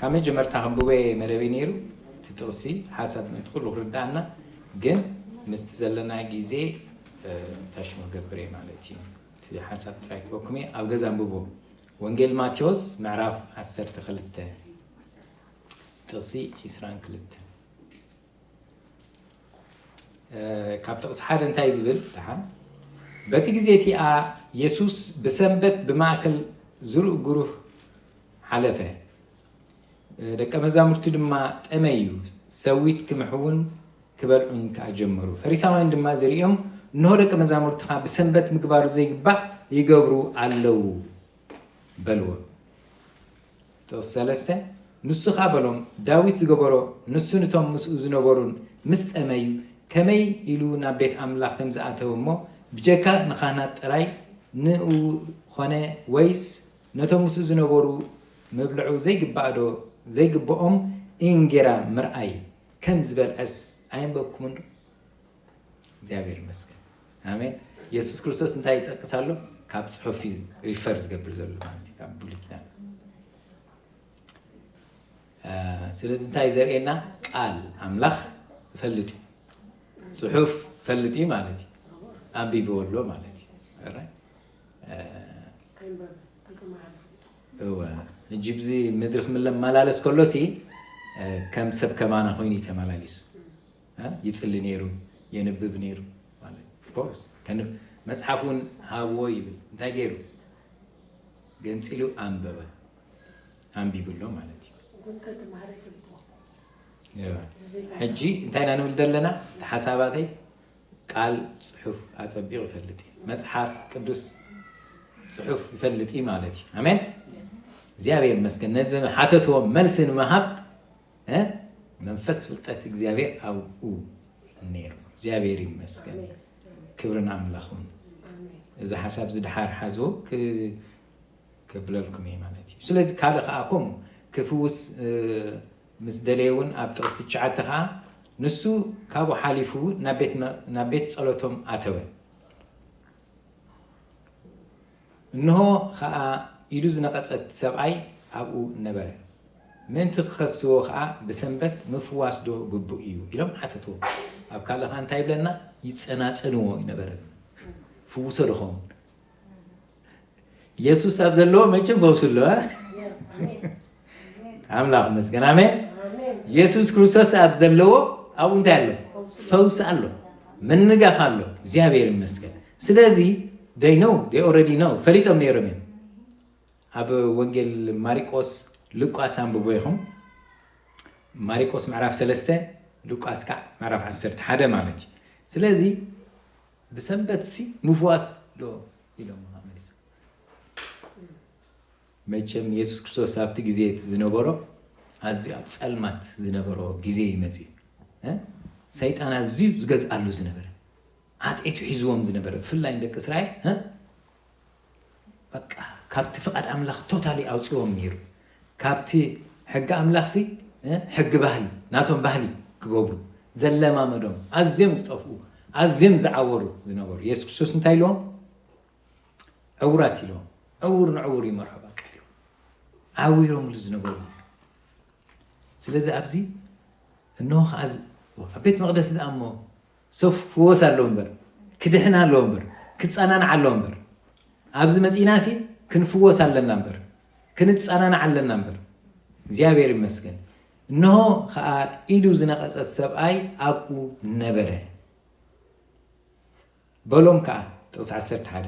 ካብ መጀመርታ ከንብቦየ መደበይ ነይሩ እቲ ጥቕሲ ሓሳብ ምእንቲ ኩሉ ክርድኣና ግን ምስቲ ዘለና ግዜ ታሽሙ ክገብርየ ማለት እዩ እቲ ሓሳብ ጥራይ ክበኩም እየ ኣብ ገዛ ኣንብቦ ወንጌል ማቴዎስ ምዕራፍ ዓሰርተ ክልተ ጥቕሲ ዒስራን ክልተን ካብ ጥቕሲ ሓደ እንታይ ዝብል ደሓን በቲ ግዜ እቲኣ የሱስ ብሰንበት ብማእከል ዝርእ ጉሩህ ሓለፈ ደቀ መዛሙርቲ ድማ ጠመዩ ሰዊት ክምሕውን ክበልዑን ከዓ ጀመሩ ፈሪሳውያን ድማ ዝርእዮም እንሆ ደቂ መዛሙርትኻ ብሰንበት ምግባሩ ዘይግባእ ይገብሩ ኣለዉ በልዎ ጥቕሲ ሰለስተ፣ ንሱኻ በሎም፣ ዳዊት ዝገበሮ፣ ንሱን እቶም ምስኡ ዝነበሩን ምስ ጠመዩ፣ ከመይ ኢሉ ናብ ቤት ኣምላኽ ከም ዝኣተወ እሞ፣ ብጀካ ንኻህናት ጥራይ ንእኡ ዀነ ወይስ ነቶም ምስኡ ዝነበሩ ምብልዑ ዘይግባእዶ ዘይግብኦም እንጌራ ምርኣይ ከም ዝበልዐስ ኣየንበብኩምንዶ? እግዚኣብሔር ይመስገን ኣሜን። ኢየሱስ ክርስቶስ እንታይ ይጠቅስ ኣሎ? ካብ ጽሑፍ እዩ ሪፈር ዝገብር ዘሎ ማለት እዩ ካብ ብሉይ ኪዳን። አ፣ ስለዚ እንታይ ዘርእየና ቃል ኣምላኽ ፈልጥ እዩ ጽሑፍ ፈልጥ እዩ ማለት እዩ ኣንቢብዎ ኣሎ ማለት እዩ ኦራይት። አ፣ እወ ሕጂ ብዚ ምድሪ ክምለማላለስ ከሎሲ አ፣ ከም ሰብ ከማና ኮይኑ እዩ ተመላሊሱ ይጽሊ ነይሩ፣ የንብብ ነይሩ ማለት ኦፍ ኮርስ ከንብ መጽሓፍ እውን ሃብዎ ይብል እንታይ ገይሩ ገንጺሉ ኣንበበ ኣንቢብሎ ማለት እዩ ግን ከይተማህረ ይፈልጥዎ ሕጂ እንታይ ኢና ንብል ዘለና እቲ ሓሳባተይ ቃል ፅሑፍ ኣፀቢቑ ይፈልጥ እዩ መፅሓፍ ቅዱስ ፅሑፍ ይፈልጥ እዩ ማለት እዩ ኣሜን እግዚኣብሔር ይመስገን ነዚ ሓተትዎ መልሲ ንምሃብ መንፈስ ፍልጠት እግዚኣብሔር ኣብኡ ነይሩ እግዚኣብሔር ይመስገን ክብርን ኣምላኹን እዚ ሓሳብ ዝድሓር ሓዝዎ ክብለልኩም እየ ማለት እዩ ስለዚ ካልእ ከዓ ኮም ክፍውስ ምስ ደለየ እውን ኣብ ጥቕስ ትሽዓተ ከዓ ንሱ ካብኡ ሓሊፉ ናብ ቤት ፀሎቶም ኣተወ እንሆ ኸኣ ኢዱ ዝነቐጸት ሰብኣይ ኣብኡ ነበረ። ምእንቲ ኪኸስዎ ኸኣ ብሰንበት ምፍዋስዶ ግቡእ እዩ? ኢሎም ሓተትዎ። ኣብ ካልእ ኸኣ እንታይ ይብለና? ይጸናጸንዎ እዩ ነበረ። ፍውሶ ዶኸውን? የሱስ ኣብ ዘለዎ መቸም ፈውሲ ኣሎ። ኣምላኽ መስገን ኣሜን የሱስ ክርስቶስ ኣብ ዘለዎ ኣብኡ እንታይ ኣሎ ፈውሲ ኣሎ ምንጋፍ ኣሎ እግዚኣብሔር ይመስገን ስለዚ ደይ ነው ደይ ኦረዲ ነው ፈሊጦም ነይሮም እዮም ኣብ ወንጌል ማሪቆስ ልቋስ ኣንብቦ ይኹም ማሪቆስ ምዕራፍ ሰለስተ ልቋስ ካዕ ምዕራፍ ዓሰርተ ሓደ ማለት እዩ ስለዚ ብሰንበት ሲ ምፍዋስ ዶ ኢሎም መቸም የሱስ ክርስቶስ ኣብቲ ግዜ እቲ ዝነበሮ ኣዝዩ ኣብ ጸልማት ዝነበሮ ግዜ እዩ መጺኡ እ ሰይጣን ኣዝዩ ዝገዝኣሉ ዝነበረ ዓጢቱ ሒዝዎም ዝነበረ ብፍላይ ንደቂ እስራኤል እ በቃ ካብቲ ፍቓድ ኣምላኽ ቶታሊ ኣውጽዎም ነይሩ ካብቲ ሕጊ ኣምላኽ ሲ እ ሕጊ ባህሊ ናቶም ባህሊ ክገብሩ ዘለማመዶም ኣዝዮም ዝጠፍኡ ኣዝዮም ዝዓወሩ ዝነበሩ የሱስ ክርስቶስ እንታይ ኢልዎም ዕውራት ኢሎም ዕውር ንዕውር ይመርሖ በቃ ኢሎም ዓዊሮምሉ ዝነበሩ ስለዚ ኣብዚ እንሆ ከዓ ኣብ ቤት መቅደስ ዳኣ እሞ ሰፍ ክወስ ኣለዎ እምበር ክድሕን ኣለዎ እምበር ክፀናናዕ ኣለዎ እምበር ኣብዚ መፂና ሲ ክንፍወስ ኣለና እምበር ክንፀናናዕ ኣለና እምበር እግዚኣብሔር ይመስገን እንሆ ከዓ ኢዱ ዝነቐፀ ሰብኣይ ኣብኡ ነበረ በሎም ከኣ፣ ጥቕሲ ዓሰርተ ሓደ፣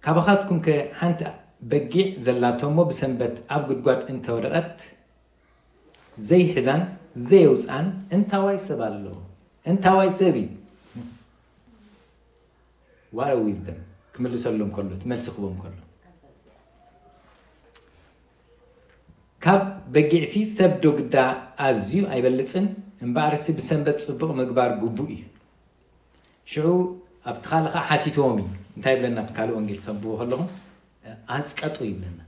ካባኻትኩምከ ሓንቲ በጊዕ ዘላቶ እሞ ብሰንበት ኣብ ጕድጓድ እንተ ወደቐት፣ ዘይሕዛን ዘየውጽኣን እንታዋይ ሰብ ኣሎ? እንታዋይ ሰብ እዩ? What a wisdom! ክምልሰሎም ከሎ፣ እቲ መልሲ ክህቦም ከሎ። ካብ በጊዕሲ ሰብዶ ግዳ ኣዝዩ ኣይበልጽን? እምበኣርሲ ብሰንበት ጽቡቕ ምግባር ግቡእ እዩ። ሽዑ ኣብቲ ካልእ ከኣ ሓቲትዎም እዩ እንታይ ይብለና ኣብቲ ካልእ ወንጌል ክተንብቦ ከለኹም ኣስቀጡ ይብለና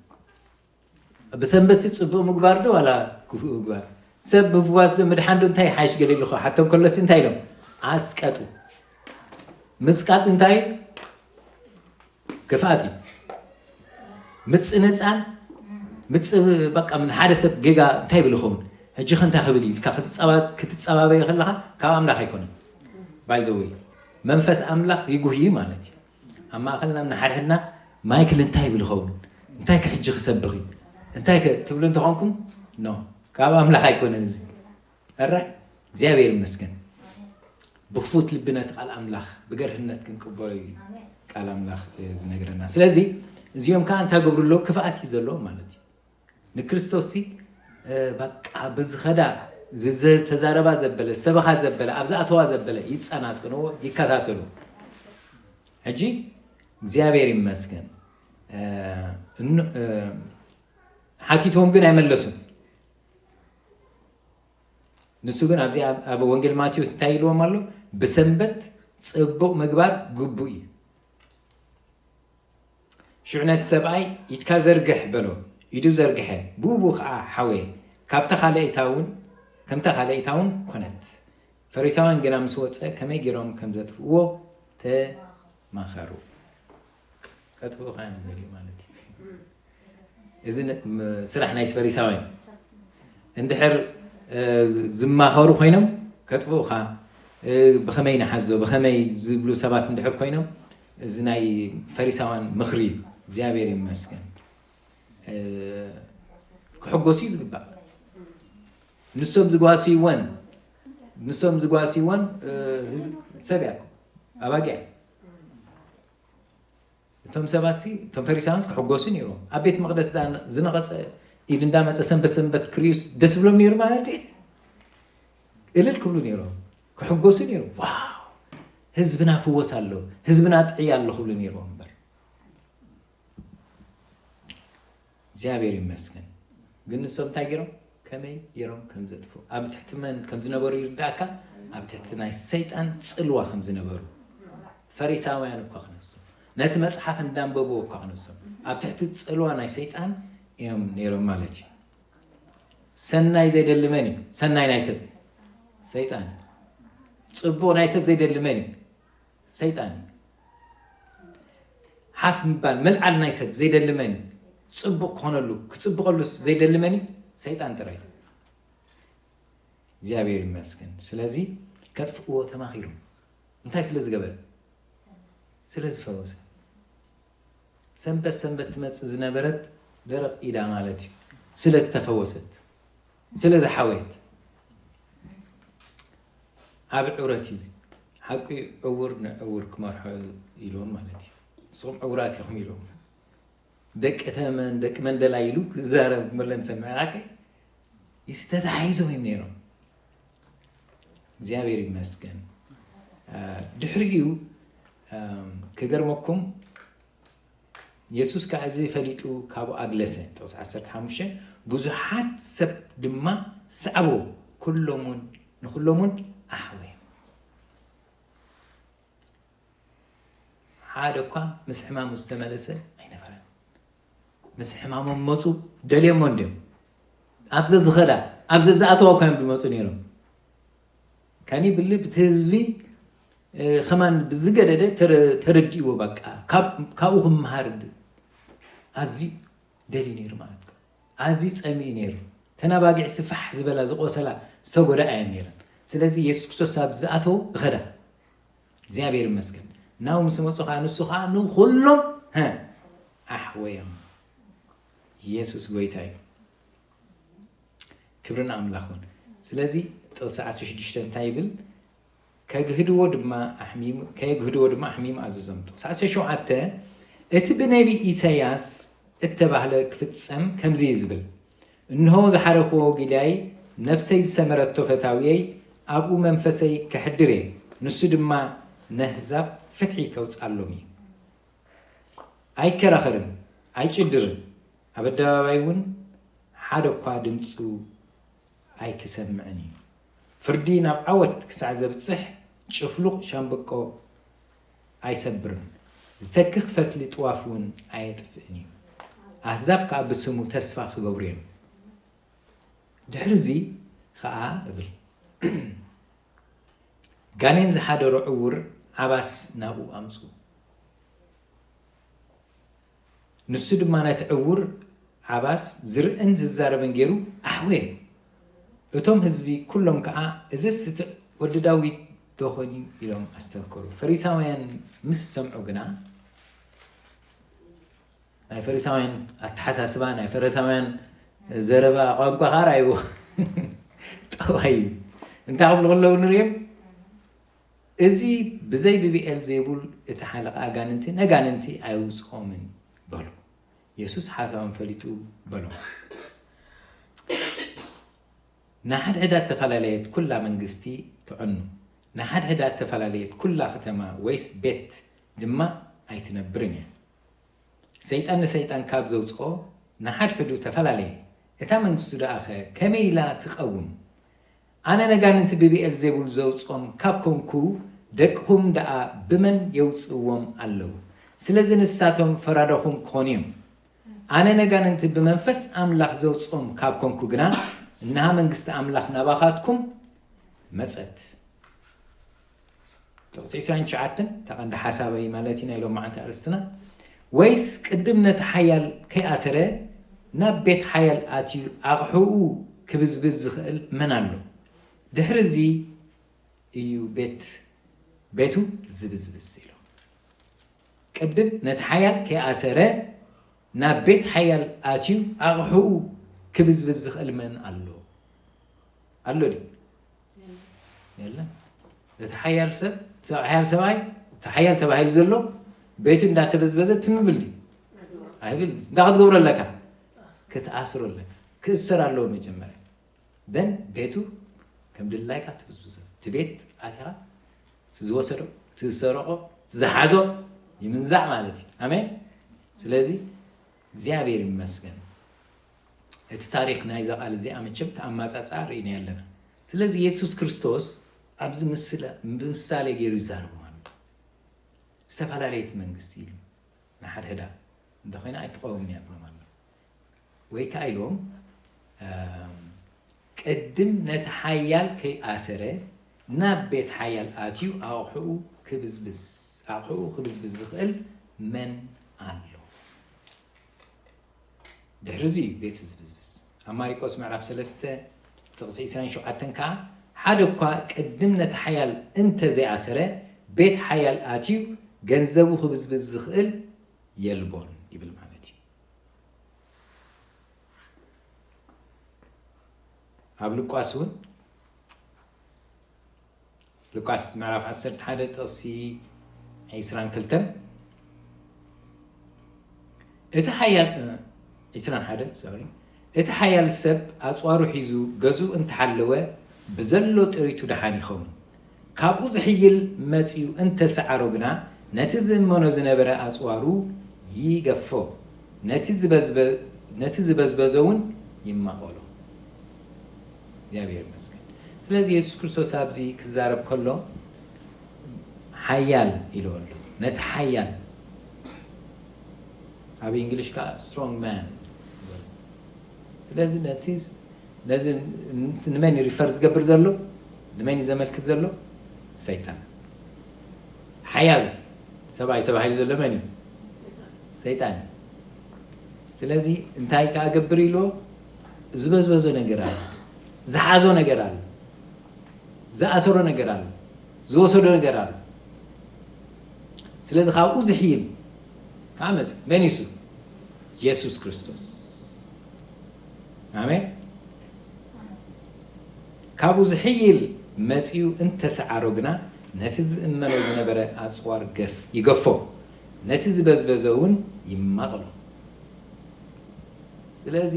ብሰንበት ሲ ፅቡቅ ምግባር ዶ ዋላ ክፉእ ምግባር ሰብ ብፍዋስ ዶ ምድሓን ዶ እንታይ ሓይሽ ገለ ኢሉ ሓቶም ከሎሲ እንታይ ኢሎም ኣስቀጡ ምስቃጥ እንታይ ክፍኣት እዩ ምፅንፃን ምፅ በቃ ምን ሓደ ሰብ ጌጋ እንታይ ይብል ይኸውን ሕጂ ከ እንታይ ክብል ኢልካ ክትፀባበየ ከለካ ካብ ኣምላኽ ኣይኮነን ባይዘወይ መንፈስ ኣምላኽ ይጉህይ ማለት እዩ ኣብ ማእኸልና ንሓድሕድና ማይክል እንታይ ይብል ይኸውን እንታይ ከ ሕጂ ክሰብኽ እዩ እንታይ ከ ትብሉ እንተኾንኩም ኖ ካብ ኣምላኽ ኣይኮነን እዚ ኣራይ እግዚኣብሔር ይመስገን ብክፉት ልቢ ነቲ ቃል ኣምላኽ ብገርህነት ክንቅበሎ እዩ ቃል ኣምላኽ ዝነግረና ስለዚ እዚኦም ከዓ እንታይ ገብሩ ኣለዉ ክፍኣት እዩ ዘለዎ ማለት እዩ ንክርስቶስ ሲ በቃ ብዝኸዳ ዝተዛረባ ዘበለ ሰበኻ ዘበለ ኣብ ዝኣተዋ ዘበለ ይፀናፅንዎ ይከታተሉ ሕጂ እግዚኣብሔር ይመስገን ሓቲቶም ግን ኣይመለሱን ንሱ ግን ኣብዚ ኣብ ወንጌል ማቴዎስ እንታይ ኢልዎም ኣሎ? ብሰንበት ጽቡቕ ምግባር ግቡእ እዩ። ሽዑ ነቲ ሰብኣይ ኢድካ ዘርግሕ በሎ። ኢዱ ዘርግሐ፣ ብኡብኡ ከዓ ሓወየ። ካብታ ካልኣይታ እውን ከምታ ካልኣይታ እውን ኮነት። ፈሪሳውያን ግና ምስ ወፀ ከመይ ገይሮም ከም ዘጥፍእዎ ተማኸሩ። ከጥፍኡኻ እዮም ዝደልዩ ማለት እዩ እዚ ስራሕ ናይ ፈሪሳውያን እንድሕር ዝማኸሩ ኮይኖም ከጥፍኡኻ ብኸመይ ንሓዞ ብኸመይ ዝብሉ ሰባት እንድሕር ኮይኖም እዚ ናይ ፈሪሳውያን ምኽሪ እዩ እግዚኣብሔር ይመስገን ክሕጎሱ እዩ ዝግባእ ንሶም ዝጓስይወን ንሶም ዝጓስይወን ሰብ እያ ኣባጊዕ እቶም ሰባት ሲ እቶም ፈሪሳውያንስ ክሕጎሱ ነይሮም ኣብ ቤት መቅደስ ዳ ዝነቐፀ ኢድ እንዳመፀ ሰንበት ሰንበት ክርዩስ ደስ ብሎም ነይሩ ማለት እዩ እልል ክብሉ ነይሮም ክሕጎሱ ነይሩ ዋው ህዝብና ፍወስ ኣሎ ህዝብና ጥዕያ ኣሎ ክብሉ ነይሮም እምበር እግዚኣብሔር ይመስገን ግን ንሶም እንታይ ገይሮም ከመይ ገይሮም ከም ዘጥፉ ኣብ ትሕቲ መን ከም ዝነበሩ ይርዳእካ ኣብ ትሕቲ ናይ ሰይጣን ፅልዋ ከም ዝነበሩ ፈሪሳውያን እኳ ክነሱ ነቲ መፅሓፍ እንዳንበብዎ እኳ ክነሱ ኣብ ትሕቲ ፅልዋ ናይ ሰይጣን እዮም ነይሮም ማለት እዩ ሰናይ ዘይደሊ መን እዩ ሰናይ ናይ ሰብ ሰይጣን እዩ ፅቡቅ ናይ ሰብ ዘይደሊ መን እዩ ሰይጣን እዩ ሓፍ ምባል ምልዓል ናይ ሰብ ዘይደሊ መን እዩ ፅቡቕ ክኾነሉ ክፅብቐሉስ ዘይደሊ መን እዩ ሰይጣን ጥራይ እግዚኣብሔር ይመስገን ስለዚ ከጥፍእዎ ተማኺሮም እንታይ ስለ ዝገበረ ስለ ዝፈወሰ ሰንበት ሰንበት ትመፅእ ዝነበረት ደረቕ ኢዳ ማለት እዩ ስለ ዝተፈወሰት ስለ ዝሓወየት ዓቢ ዕውረት እዩ እዚ ሓቂ እዩ ዕውር ንዕውር ክመርሖ ኢልዎም ማለት እዩ ንስኹም ዕውራት ኢኹም ኢልዎም ደቂ ተመን ደቂ መንደላ ኢሉ ክዛረብ መለን ሰምዐ ሓቂ እዚ ተተሓሒዞም እዮም ነይሮም እግዚኣብሔር ይመስገን ድሕሪኡ ክገርመኩም የሱስ ከኣ እዚ ፈሊጡ ካብኡ ኣግለሰ፣ ጥቕሲ ዓሰርተ ሓሙሽተ፣ ብዙሓት ሰብ ድማ ሰዓብዎ፣ ኩሎምውን ንኹሎምውን ኣሕወዮም። ሓደ እኳ ምስ ሕማሙ ዝተመለሰ ኣይነበረን። ምስ ሕማሞም መፁ፣ ደልዮሞ እንድዮም ኣብ ዘዝኸዳ ኣብ ዘዝኣተዋ እኳ እዮም ዝመፁ ነይሮም። ካኒ ብሊ ብቲ ህዝቢ ከማን ብዝገደደ ተረዲእዎ በቃ ካብኡ ክምሃር ኣዝዩ ደልዩ ነይሩ ማለት እዩ ኣዝዩ ፀሚኡ ነይሩ ተናባጊዕ ስፋሕ ዝበላ ዝቆሰላ ዝተጎዳ እየን ነይረን ስለዚ የሱስ ክርስቶስ ኣብ ዝኣተው እኸዳ እግዚኣብሔር ይመስገን ናው ምስ መፁ ከዓ ንሱ ከዓ ንኩሎም ኣሕወዮም ኢየሱስ ጎይታ እዩ ክብሪ ንኣምላኽ ይኹን። ስለዚ ጥቕሲ ዓሰርተ ሽዱሽተ እንታይ ይብል? ከግህድዎ ድማ ኣሕሚሙ ከየግህድዎ ድማ ኣሕሚሙ ኣዘዞም። ጥቕሲ ዓሰርተ ሸውዓተ እቲ ብነቢ ኢሳያስ እተባህለ ክፍጸም ከምዚ እዩ ዝብል እንሆ ዝሓረኽዎ ጊልያይ ነፍሰይ ዝሰመረቶ ፈታውየይ ኣብኡ መንፈሰይ ከሕድር እየ ንሱ ድማ ነህዛብ ፍትሒ ከውፅኣሎም እዩ ኣይከራኸርን ኣይጭድርን ኣብ ኣደባባይ እውን ሓደ እኳ ድምፁ ኣይክሰምዕን እዩ። ፍርዲ ናብ ዓወት ክሳዕ ዘብፅሕ ጭፍሉቕ ሻምብቆ ኣይሰብርን፣ ዝተክኽ ፈትሊ ጥዋፍ እውን ኣየጥፍእን እዩ። ኣህዛብ ከዓ ብስሙ ተስፋ ክገብሩ እዮም። ድሕሪ እዚ ኸዓ እብል ጋኔን ዝሓደሮ ዕውር ዓባስ ናብኡ ኣምፁ። ንሱ ድማ ነቲ ዕዉር ዓባስ ዝርእን ዝዛረብን ገይሩ ኣሕወዮ። እቶም ህዝቢ ኵሎም ከኣ እዝስ እቲ ወዲ ዳዊት ዶ ዀን እዩ? ኢሎም ኣስተንከሩ። ፈሪሳውያን ምስ ዝሰምዑ ግና፣ ናይ ፈሪሳውያን ኣተሓሳስባ፣ ናይ ፈሪሳውያን ዘረባ ቋንቋ ከኣ ረኣይዎ። ጠዋይ እዩ። እንታይ ክብሉ ከለዉ ንርእዮም? እዚ ብዘይ ብብኤልዜቡል እቲ ሓለቓ ኣጋንንቲ ነጋንንቲ ኣየውጽኦምን በሉ። የሱስ ሓሳቦም ፈሊጡ በሎም፣ ንሓድሕዳ እተፈላለየት ኵላ መንግስቲ ትዕኑ፣ ንሓድሕዳ እተፈላለየት ኵላ ኽተማ ወይስ ቤት ድማ ኣይትነብርን እያ። ሰይጣን ንሰይጣን ካብ ዘውጽኦ ንሓድሕዱ ተፈላለየ፣ እታ መንግስቱ ደኣኸ ከመይ ኢላ ትቐውም? ኣነ ነጋንንቲ ብብኤልዜቡል ዘውጾም ካብ ኮንኩ ደቅኹም ደኣ ብመን የውጽእዎም ኣለዉ? ስለዚ ንሳቶም ፈራዳኹም ክኾኑ እዮም። ኣነ ነጋንንቲ ብመንፈስ ኣምላኽ ዘውጾም ካብ ኮንኩ ግና እንሃ መንግስቲ ኣምላኽ ናባኻትኩም መጸት። ጥቕሲ ዕስራን ትሽዓተን እታ ቀንዲ ሓሳበይ ማለት እዩ ናይ ሎመዓልቲ ኣርእስትና ወይስ ቅድም ነቲ ሓያል ከይኣሰረ ናብ ቤት ሓያል ኣትዩ ኣቕሑኡ ክብዝብዝ ዝኽእል መን ኣሎ? ድሕሪ እዚ እዩ ቤት ቤቱ ዝብዝብዝ ኢሉ። ቅድም ነቲ ሓያል ከይኣሰረ ናብ ቤት ሓያል ኣትዩ ኣቕሑኡ ክብዝብዝ ዝኽእል መን ኣሎ? ኣሎ ድዩ? የለን እቲ ሓያል ሰብ እቲ ሓያል ሰብኣይ እቲ ሓያል ተባሂሉ ዘሎ ቤቱ እንዳተበዝበዘ ትምብል ድዩ ኣይብል እንዳ ክትገብሮ ኣለካ ክትኣስሮ ኣለካ ክእሰር ኣለዎ መጀመርያ በን ቤቱ ከም ድላይካ ትብዝብዞ እቲ ቤት ኣቲኻ እቲ ዝወሰዶ እቲ ዝሰረቆ እቲ ዝሓዞ ይምንዛዕ ማለት እዩ ኣሜን ስለዚ እግዚኣብሔር ይመስገን እቲ ታሪኽ ናይዛ ቃል እዚኣ መቸም ተኣማጻጽኣ ርኢናዮ ኣለና። ስለዚ የሱስ ክርስቶስ ኣብዚ ምስለ ብምሳሌ ገይሩ ይዛረቦም ኣሎ። ዝተፈላለየት መንግስቲ ኢሉ ንሓድሕዳ እንተኾይና ኣይትቐውምን እያ ብሎም ኣሎ። ወይ ከዓ ኢሎም ቅድም ነቲ ሓያል ከይኣሰረ ናብ ቤት ሓያል ኣትዩ ኣቑሑኡ ክብዝብዝ ኣቑሑኡ ክብዝብዝ ዝኽእል መን ኣሎ? ድሕሪ እዚ እዩ ቤቱ ዝብዝብዝ ኣብ ማሪቆስ ምዕራፍ ሰለስተ ጥቕሲ ዕስራን ሸውዓተን ከዓ ሓደ እኳ ቅድም ነቲ ሓያል እንተ ዘይኣሰረ ቤት ሓያል ኣትዩ ገንዘቡ ክብዝብዝ ዝኽእል የልቦን ይብል ማለት ኣብ ልቋስ እውን ሉቃስ ምዕራፍ ዓሰርተ ሓደ ጥቕሲ ዒስራን ክልተን እቲ ሓያል ዒስራን ሓደ ሶሪ እቲ ሓያል ሰብ ኣፅዋሩ ሒዙ ገዝኡ እንተሓለወ ብዘሎ ጥሪቱ ደሓን ይኸውን ካብኡ ዝሕይል መፅኡ እንተሰዓሮ ግና ነቲ ዝእመኖ ዝነበረ ኣፅዋሩ ይገፎ ነቲ ዝበዝበ ነቲ ዝበዝበዞ እውን ይማቐሎ እግዚኣብሔር ይመስገን ስለዚ የሱስ ክርስቶስ ኣብዚ ክዛረብ ከሎ ሓያል ኢልዎ ኣሎ ነቲ ሓያል ኣብ እንግሊሽ ከዓ ስትሮንግ ማን ስለዚ ነቲ ነዚ ንመን እዩ ሪፈር ዝገብር ዘሎ ንመን እዩ ዘመልክት ዘሎ ሰይጣን ሓያል ሰብኣይ ተባሂሉ ዘሎ መን እዩ ሰይጣን እዩ ስለዚ እንታይ ከዓ ገብር ኢልዎ ዝበዝበዞ ነገር ኣሎ፣ ዝሓዞ ነገር ኣሎ፣ ዝኣሰሮ ነገር ኣሎ፣ ዝወሰዶ ነገር ኣሎ። ስለዚ ካብኡ ዝሕይል ከዓ መፅ መን ይሱ የሱስ ክርስቶስ ኣሜን። ካብኡ ዝሕይል መፅኡ እንተሰዓሮ ግና ነቲ ዝእመኖ ዝነበረ ኣፅዋር ገፍ ይገፎ ነቲ ዝበዝበዘ እውን ይማቕሎ። ስለዚ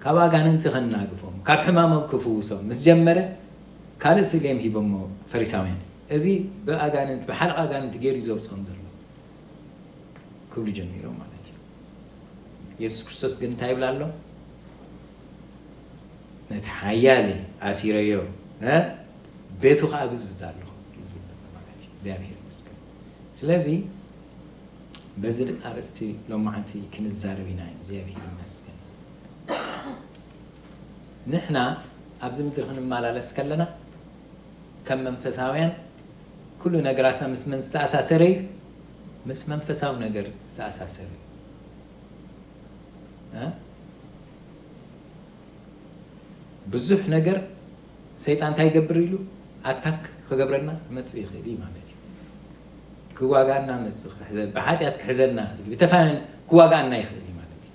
ካብ ኣጋንንቲ ከናግፎም፣ ካብ ሕማሞም ክፍውሶም ምስ ጀመረ ካልእ ስሌም ሂቦሞ ፈሪሳውያን። እዚ ብኣጋንንቲ ብሓለቓ ኣጋንንቲ ገይሩ እዩ ዘውጽኦም ዘሎ ክብሉ ጀሚሮም ማለት እዩ። የሱስ ክርስቶስ ግን እንታይ ይብላ ኣሎ? ነቲ ሓያል ኣሲረዮ ቤቱ ከዓ ብዝብዛ ኣለኹ እዩ ዝብል ማለት እዩ። እግዚኣብሔር ስለዚ በዚ ድም ኣርእስቲ ሎማዓንቲ ክንዛረብ ኢና እግዚኣብሔር ይመስገን ንሕና ኣብዚ ምድሪ ክንማላለስ ከለና ከም መንፈሳውያን ኩሉ ነገራትና ምስ መን ዝተኣሳሰረ እዩ ምስ መንፈሳዊ ነገር ዝተኣሳሰረ እዩ ብዙሕ ነገር ሰይጣን እንታይ ይገብር ኢሉ ኣታክ ክገብረና ክመጽእ ይኽእል እዩ ማለት እዩ። ክዋጋና መጽእ ክሕዘ ብሓጢኣት ክሕዘና ይኽእል ብተፋን ክዋጋና ይኽእል እዩ ማለት እዩ።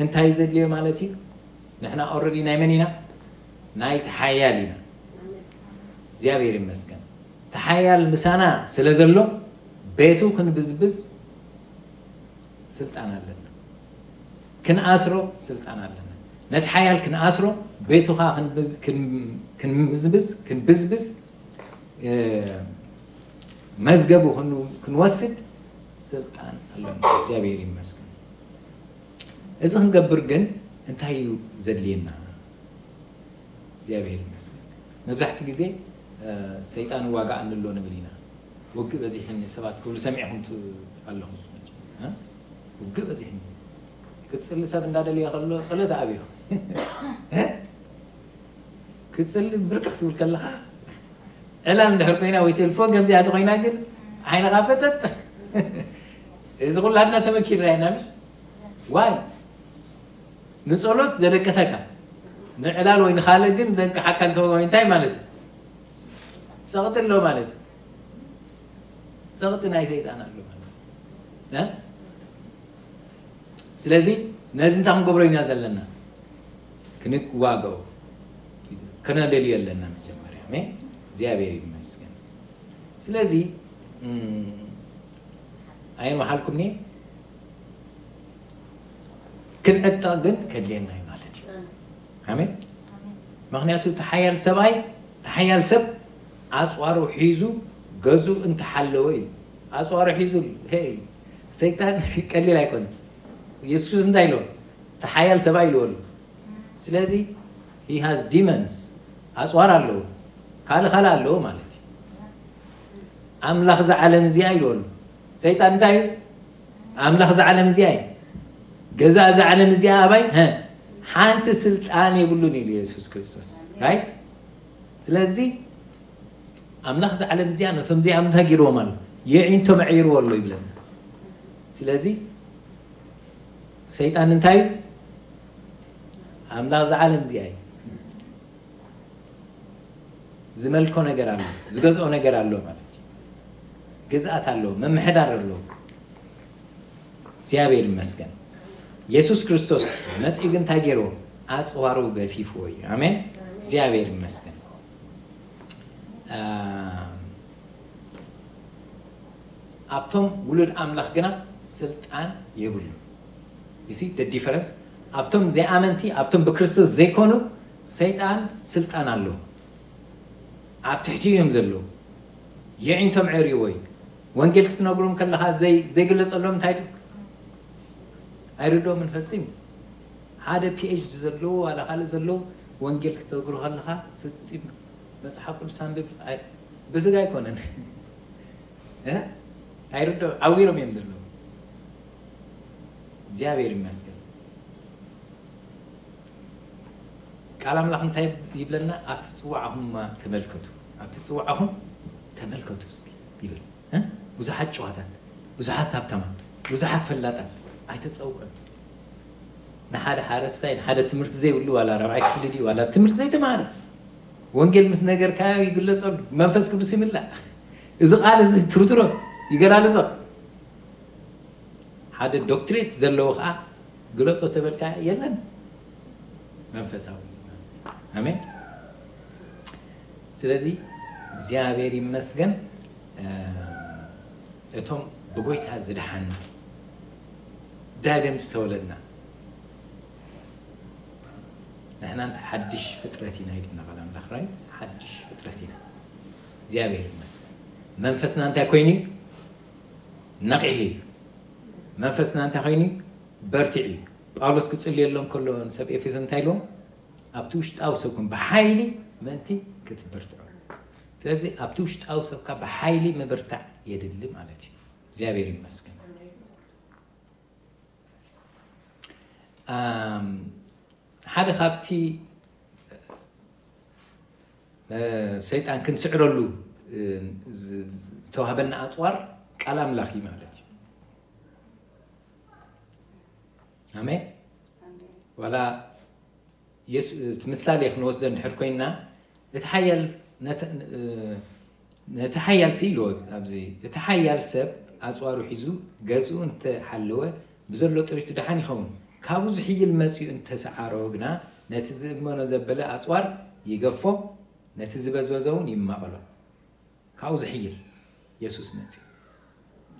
እንታይ ዘድልዮ ማለት እዩ ንሕና ኦረዲ ናይ መን ኢና ናይ ተሓያል ኢና እግዚኣብሔር ይመስገን ተሓያል ምሳና ስለ ዘሎ ቤቱ ክንብዝብዝ ስልጣን ኣለና ክንኣስሮ ስልጣን ኣለና ነቲ ሓያል ክንኣስሮ ቤቱ ከዓ ክንብዝ- ክን- ክንብዝብዝ ክንብዝብዝ እ፣ መዝገቡ ክን- ክንወስድ ስልጣን ኣለና እግዚኣብሔር ይመስገን እዚ ክንገብር ግን እንታይ እዩ ዘድልየና እግዚኣብሔር ይመስገን መብዛሕቲ ግዜ እ፣ ሰይጣን ዋጋ እንሎ ንብል ኢና ውግእ በዚሕኒ ሰባት ክብሉ ሰሚዕኹም ኣለኹም ውግእ በዚሕኒ ክፅሊ ሰብ እንዳደልየ ከሎ ፀሎት ኣብዮ ክፅሊ ብርቅ ክትብል ከለኻ ዕላል እንድሕር ኮይና ወይ ሴልፎን ከምዚኣ ተኮይና ግን ዓይንኻ ፈጠጥ እዚ ኩላትና ተመኪርና ኢና ምስ ዋይ ንፀሎት ዘደቀሰካ ንዕላል ወይ ንካልእ ግን ዘንቅሓካ እንተኮይኑ እንታይ ማለት እዩ ጸቕጢ ኣሎ ማለት እዩ። ጸቕጢ ናይ ሰይጣን ኣሎ ማለት እዩ። ስለዚ ነዚ እንታይ ክንገብሮ ኢና ዘለና ክንዋገው ከነደልዮ ኣለና መጀመርያ ሜ እግዚኣብሔር ይመስገን ስለዚ ኣየን መሓልኩም ኒ ክንዕጣ ግን ከድልየና እዩ ማለት እዩ ኣሜን ምክንያቱ እቲ ሓያል ሰብኣይ እቲ ሓያል ሰብ ኣፅዋሩ ሒዙ ገዙ እንተሓለወ እዩ ኣፅዋሩ ሒዙ ሄይ ሰይጣን ቀሊል ኣይኮነ ኢየሱስ ክርስቶስ እንታይ ኢልዎ እቲ ሓያል ሰብኣይ ኢልዎ ኣሎ ስለዚ ሂ ሃዝ ዲመንስ ኣፅዋር ኣለዎ ካልእ ካልእ ኣለዎ ማለት እዩ ኣምላኽ እዚ ዓለም እዚኣ ኢልዎ ኣሎ ሰይጣን እንታይ እዩ ኣምላኽ እዛ ዓለም እዚኣ እዩ ገዛ እዛ ዓለም እዚኣ ኣባይ ሓንቲ ስልጣን የብሉን ኢሉ የሱስ ክርስቶስ ራይ ስለዚ ኣምላኽ እዛ ዓለም እዚኣ ነቶም እዚኣ እንታይ ገይርዎም ኣሎ የዒንቶ መዒርዎ ኣሎ ይብለና ስለዚ ሰይጣን እንታይ እዩ ኣምላኽ እዛ ዓለም እዚኣ እዩ ዝመልኮ ነገር ኣሎ፣ ዝገዝኦ ነገር ኣሎ ማለት እዩ። ግዝኣት ኣሎ፣ ምምሕዳር ኣሎ። እግዚኣብሔር ይመስገን። ኢየሱስ ክርስቶስ መፅኡ ግን እንታይ ገይርዎ? ኣፅዋሩ ገፊፍዎ እዩ። ኣሜን። እግዚኣብሔር ይመስገን። ኣብቶም ውሉድ ኣምላኽ ግና ስልጣን የብሉ። You see the difference? ኣብቶም ዘይኣመንቲ ኣብቶም ብክርስቶስ ዘይኮኑ ሰይጣን ስልጣን ኣለዎ። ኣብ ትሕቲኡ እዮም ዘለዉ። የዒንቶም ዐርዩዎ እዩ። ወንጌል ክትነግሮም ከለኻ ዘይ ዘይግለጸሎም እንታይ ድዩ? ኣይርድኦምን ፈጺሙ። ሓደ ፒኤችዲ ዘለዎ ዋላ ካልእ ዘለዎ ወንጌል ክትነግሮ ከለኻ ፈጺሙ መጽሓፍ ቅዱስ ኣንብብ ኣይ- ብስጋ ኣይኮነን እ? ኣይርድኦ ዓዊሮም እዮም ዘለዉ። እግዚኣብሔር ይመስገን ቃል ኣምላኽ እንታይ ይብለና ኣብቲ ፅዋዕኹምማ ተመልከቱ ኣብቲ ፅዋዕኹም ተመልከቱ እስኪ ይብል እ? ብዙሓት ጨዋታት ብዙሓት ሃብታማት ብዙሓት ፈላጣት ኣይተፀውዑን ንሓደ ሓረስታይ ንሓደ ትምህርቲ ዘይብሉ ዋላ ራብዓይ ክፍሊ ድዩ ዋላ ትምህርቲ ዘይተማሃረ ወንጌል ምስ ነገርካዮ ይግለፀሉ መንፈስ ቅዱስ ይምላእ እዚ ቃል እዚ ትርትሮ ይገላልፆ ሓደ ዶክትሬት ዘለዎ ከኣ ግለጾ ተበልካ የለን መንፈሳዊ ኣሜን ስለዚ እግዚኣብሔር ይመስገን እቶም ብጎይታ ዝደሓና ዳግም ዝተወለድና ንሕና እንተ ሓድሽ ፍጥረት ኢና ኢልና ቃል ኣምላኽ ራይት ሓድሽ ፍጥረት ኢና እግዚኣብሔር ይመስገን መንፈስና እንታይ ኮይኑ እዩ ነቒሒ እዩ መንፈስና እንታይ ኮይኑ እዩ በርቲዑ እዩ ጳውሎስ ክጽልየሎም ከሎ ንሰብ ኤፌሶን እንታይ ኢልዎም ኣብቲ ውሽጣዊ ሰብኩም ብሓይሊ ምእንቲ ክትብርትዑ ስለዚ ኣብቲ ውሽጣዊ ሰብካ ብሓይሊ ምብርታዕ የድሊ ማለት እዩ እግዚኣብሔር ይመስገን ሓደ ካብቲ ንሰይጣን ክንስዕረሉ ዝተዋህበና ኣፅዋር ቃል ኣምላኽ እዩ ማለት እዩ ኣሜን ዋላ ምሳሌ ክንወስደ እንድሕር ኮይንና እቲ ሓያል ነቲ ሓያልሲ ኢልዎ ኣብዚ እቲ ሓያል ሰብ ኣጽዋሩ ሒዙ ገዝኡ እንተ ሓለወ ብዘሎ ጥሪቱ ደሓን ይኸውን፣ ካብኡ ዝሕይል መጺኡ እንተ ሰዓሮ ግና ነቲ ዝእመኖ ዘበለ ኣጽዋር ይገፎ ነቲ ዝበዝበዘውን ይማቐሎ። ካብኡ ዝሕይል የሱስ መጺኡ።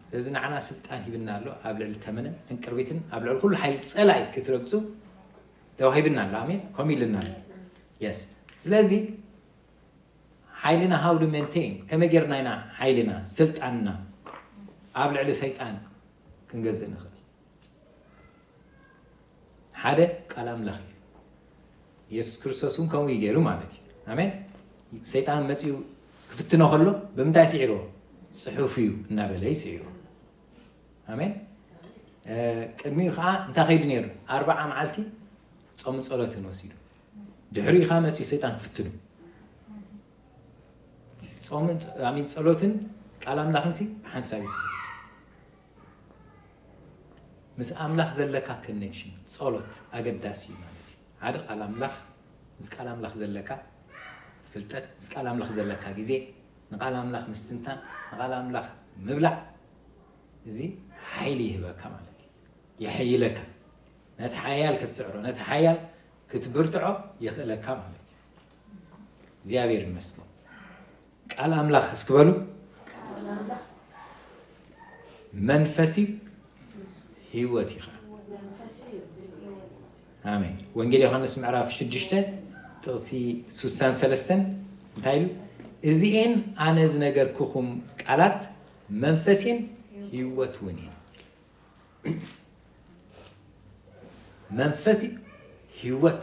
ስለዚ ንዓና ስልጣን ሂብና ኣሎ ኣብ ልዕሊ ተመንን ዕንቅርቢትን ኣብ ልዕሊ ኩሉ ሓይሊ ጸላኢ ክትረግጹ ተዋሂብና ኣሎ። ኣሜን ከምኡ ኢልና ኣሎ። የስ ስለዚ ሓይልና how to maintain ከመይ ጌርና ኢና ሓይልና ስልጣንና ኣብ ልዕሊ ሰይጣን ክንገዝእ ንኽእል? ሓደ ቃል ኣምላኽ እዩ። የሱስ ክርስቶስ እውን ከምኡ እዩ ገይሩ ማለት እዩ። ኣሜን። ሰይጣን መፅኡ ክፍትኖ ከሎ ብምንታይ ስዒርዎ? ፅሑፍ እዩ እናበለ እዩ ስዒርዎ። ኣሜን። ቅድሚኡ ከዓ እንታይ ከይዱ ነይሩ? ኣርባዓ መዓልቲ ፆምን ጸሎትን ወሲዱ ድሕሪኡ ከኣ መጺኡ ሰይጣን ክፍትኑ ጾምን ኣሚን ጸሎትን ቃል ኣምላኽን ሲ ሓንሳብ እዩ ምስ ኣምላኽ ዘለካ ኮኔክሽን ጸሎት ኣገዳሲ እዩ ማለት እዩ ሓደ ቃል ኣምላኽ ምስ ቃል ኣምላኽ ዘለካ ፍልጠት ምስ ቃል ኣምላኽ ዘለካ ግዜ ንቃል ኣምላኽ ምስትንታን ንቃል ኣምላኽ ምብላዕ እዚ ሓይሊ ይህበካ ማለት እዩ የሐይለካ ነቲ ሓያል ክትስዕሮ ነቲ ሓያል ክትብርትዖ የኽእለካ ማለት እዩ እግዚኣብሔር ይመስገን ቃል ኣምላኽ እስክበሉ መንፈሲ ህይወት ይኸ ኣሜን ወንጌል ዮሃንስ ምዕራፍ 6 ጥቕሲ 63 እንታይ ኢሉ እዚኤን ኣነ ዝነገርኩኹም ቃላት መንፈሴን ህይወት እውን እየን መንፈስ ህይወት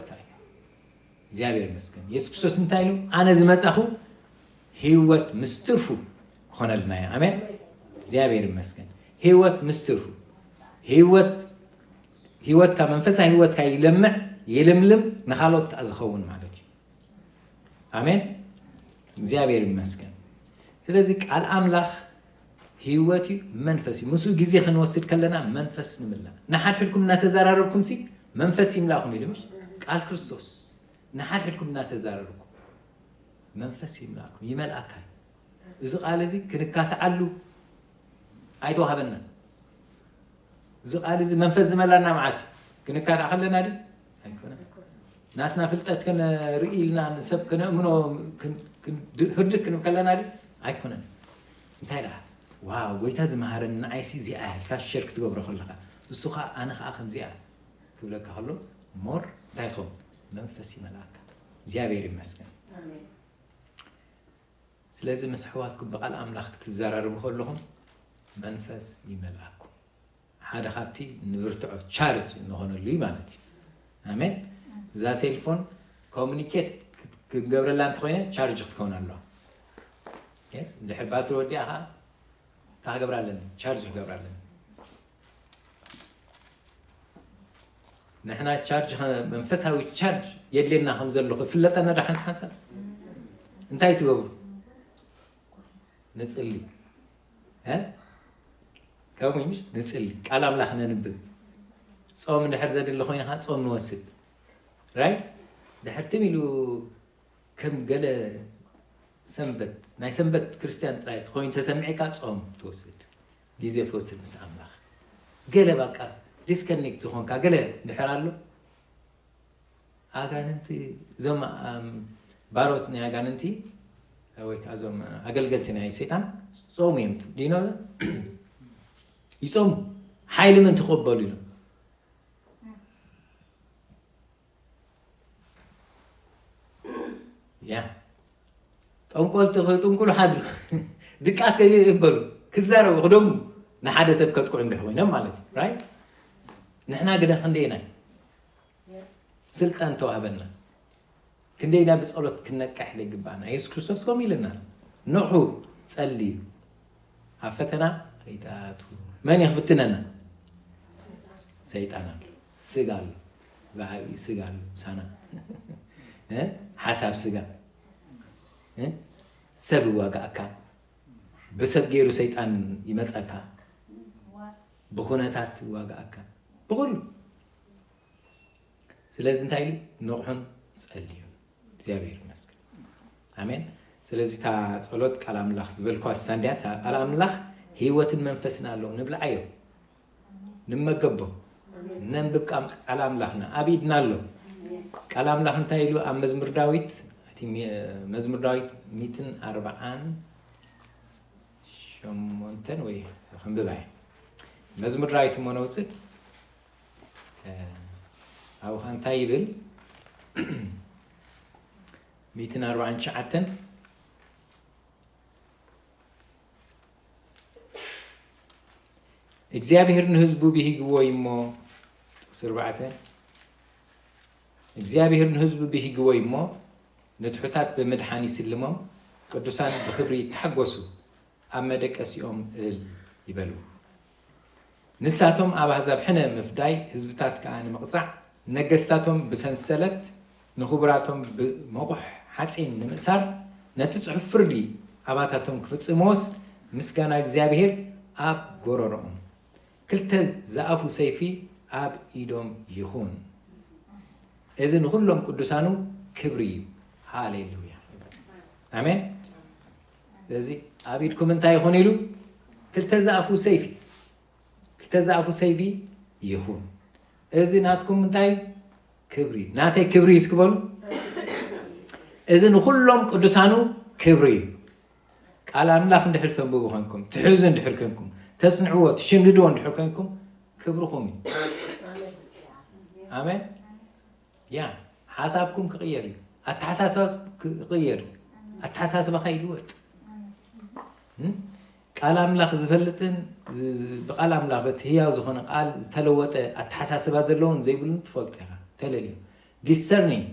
እግዚኣብሔር ይመስገን ኢየሱስ ክርስቶስ እንታይ ኢሉ ኣነ ዝመፃኹ ህይወት ምስ ትርፉ ክኾነልና እዩ ኣሜን እግዚኣብሔር ይመስገን ህይወት ምስ ትርፉ ህይወት ህይወትካ መንፈሳዊ ህይወትካ ይለምዕ ይልምልም ንካልኦት ከዓ ዝኸውን ማለት እዩ ኣሜን እግዚኣብሔር ይመስገን ስለዚ ቃል ኣምላኽ ህይወት እዩ መንፈስ እዩ ምስኡ ግዜ ክንወስድ ከለና መንፈስ ንምላእ ንሓድሕድኩም እናተዘራረብኩም ሲ መንፈስ ይምላእኩም ኢሉ ምሽ ቃል ክርስቶስ ንሓድሕድኩም እናተዘራረብኩም መንፈስ ይምላእኩም ይመልኣካ እዩ እዚ ቃል እዚ ክንካትዓሉ ኣይተዋህበና እዚ ቃል እዚ መንፈስ ዝመላና መዓስ እዩ ክንካትዕ ከለና ድ ናትና ፍልጠት ክንርኢ ኢልና ንሰብ ክነእምኖ ህርድ ክንብ ከለና ድ ኣይኮነን እንታይ ደኣ ዋ ጎይታ ዝመሃረኒ ንዓይሲ እዚኣ ኢልካ ሸር ክትገብሮ ከለካ እሱ ከዓ ኣነ ከዓ ከምዚኣ ክብለካ ከሎ ሞር እንታይ ይኸውን መንፈስ ይመልኣካ እግዚኣብሔር ይመስገን ስለዚ ምስ ኣሕዋትኩም ብቃል ኣምላኽ ክትዘራርቡ ከለኹም መንፈስ ይመልኣኩም ሓደ ካብቲ ንብርትዖ ቻርጅ እንኾነሉ እዩ ማለት እዩ ኣሜን እዛ ሴልፎን ኮሚኒኬት ክትገብረላ እንተኮይነ ቻርጅ ክትከውን ኣለዋ ስ ድሕር ባትሪ ወዲኣ ከዓ እንታይ ክገብራ ኣለኒ ቻርጅ ክገብራ ኣለኒ ንሕና ቻርጅ መንፈሳዊ ቻርጅ የድልየና ከም ዘሎ ክፍለጠና ዶ ሓንስ ሓንሳብ እንታይ ትገብሩ ንፅሊ ከምኡ እዩ ንፅሊ ቃል ኣምላኽ ነንብብ ፆም ድሕር ዘድሊ ኮይኑ ከዓ ፆም ንወስድ ራይ ድሕር ትም ኢሉ ከም ገለ ሰንበት ናይ ሰንበት ክርስትያን ጥራይ ኮይኑ ተሰሚዕካ ፆም ትወስድ ግዜ ትወስድ ምስ ኣምላኽ ገለ በቃ ዲስከኒክት ዝኾንካ ገለ ድሕር ኣሎ ኣጋንንቲ እዞም ባሮት ናይ ኣጋንንቲ ወይ ከዓ እዞም ኣገልገልቲ ናይ ሰይጣን ጾሙ እዮም ዲኖ ይጾሙ ሓይሊ ምን ትቐበሉ ኢሎም ያ ጠንቆልቲ ከይጥንቁሉ ሓድሩ ድቃስ ከይበሉ ክዛረቡ ክደሙ ንሓደ ሰብ ከጥቅዑ እንዲሕ ኮይኖም ማለት እዩ ንሕና ግደ ክንደየናይ ስልጣን ተዋህበና ክንደይ ኢና ብጸሎት ክንነቅሕ ዘይግባእና የሱስ ክርስቶስ ከምኡ ኢለና ንዑ ጸልዩ ኣብ ፈተና ከይትኣቱ መን እዩ ክፍትነና ሰይጣን ኣሎ ስጋ ኣሎ ብዓብዩ ስጋ ኣሎ ሳና እ? ሓሳብ ስጋ እ? ሰብ ይዋጋእካ ብሰብ ገይሩ ሰይጣን ይመፀካ ብኩነታት ይዋጋእካ ብኩሉ ስለዚ እንታይ ኢሉ ንቕሑን ጸልዩን እግዚኣብሔር ይመስገን ኣሜን ስለዚ እታ ጸሎት ቃል ኣምላኽ ዝበልኳ ሳንድያ እታ ቃል ኣምላኽ ህይወትን መንፈስን ኣለዎ ንብልዓዮ ንመገቦ ነንብብ ቃም ቃል ኣምላኽና ኣብ ኢድና ኣሎ ቃል ኣምላኽ እንታይ ኢሉ ኣብ መዝሙር ዳዊት እቲ ሚ- መዝሙር ዳዊት ሚትን ኣርብዓን ሸሞንተን ወይ ክንብባ እየ መዝሙር ዳዊት እሞ ነውፅእ ኣብኻ እንታይ ይብል ሚእትን ኣርባዓን ትሽዓተን እግዚኣብሔር ንህዝቡ ብሂግዎ እዩ እሞ ጥቅሲ ኣርባዕተ እግዚኣብሔር ንህዝቡ ብሂግዎ እዩ እሞ ንትሑታት ብምድሓን ይስልሞም ቅዱሳን ብክብሪ ይተሓጎሱ ኣብ መደቀሲኦም እልል ይበሉ። ንሳቶም ኣብ ኣህዛብ ሕነ ምፍዳይ፣ ህዝብታት ከኣ ንምቕጻዕ፣ ንነገስታቶም ብሰንሰለት፣ ንኽቡራቶም ብመቑሕ ሓጺን ንምእሳር፣ ነቲ ጽሑፍ ፍርዲ ኣባታቶም ክፍጽምዎስ፣ ምስጋና እግዚኣብሄር ኣብ ጎረሮኦም፣ ክልተ ዝኣፉ ሰይፊ ኣብ ኢዶም ይኹን። እዚ ንኹሎም ቅዱሳኑ ክብሪ እዩ። ሃሌሉያ! ኣሜን! ስለዚ ኣብ ኢድኩም እንታይ ይኹን ኢሉ ክልተ ዛእፉ ሰይፊ ክልተ ዛእፉ ሰይፊ ይኹን እዚ ናትኩም እንታይ ክብሪ ናተይ ክብሪ እዩ እስክበሉ እዚ ንኩሎም ቅዱሳኑ ክብሪ እዩ ቃል ኣምላኽ እንድሕር ተንብቡ ኮንኩም ትሕዙ እንድሕር ኮንኩም ተጽንዕዎ ትሽምድድዎ እንድሕር ኮንኩም ክብርኹም እዩ ኣሜን ያ ሓሳብኩም ክቕየር እዩ ኣተሓሳስባ ክቕየር ኣተሓሳስባኻ ይልወጥ ቃል ኣምላኽ ዝፈልጥን ብቃል ኣምላኽ በቲ ህያው ዝኾነ ቃል ዝተለወጠ ኣተሓሳስባ ዘለዎን ዘይብሉን ትፈልጦ ኢኻ ተለልዩ ዲሰርኒንግ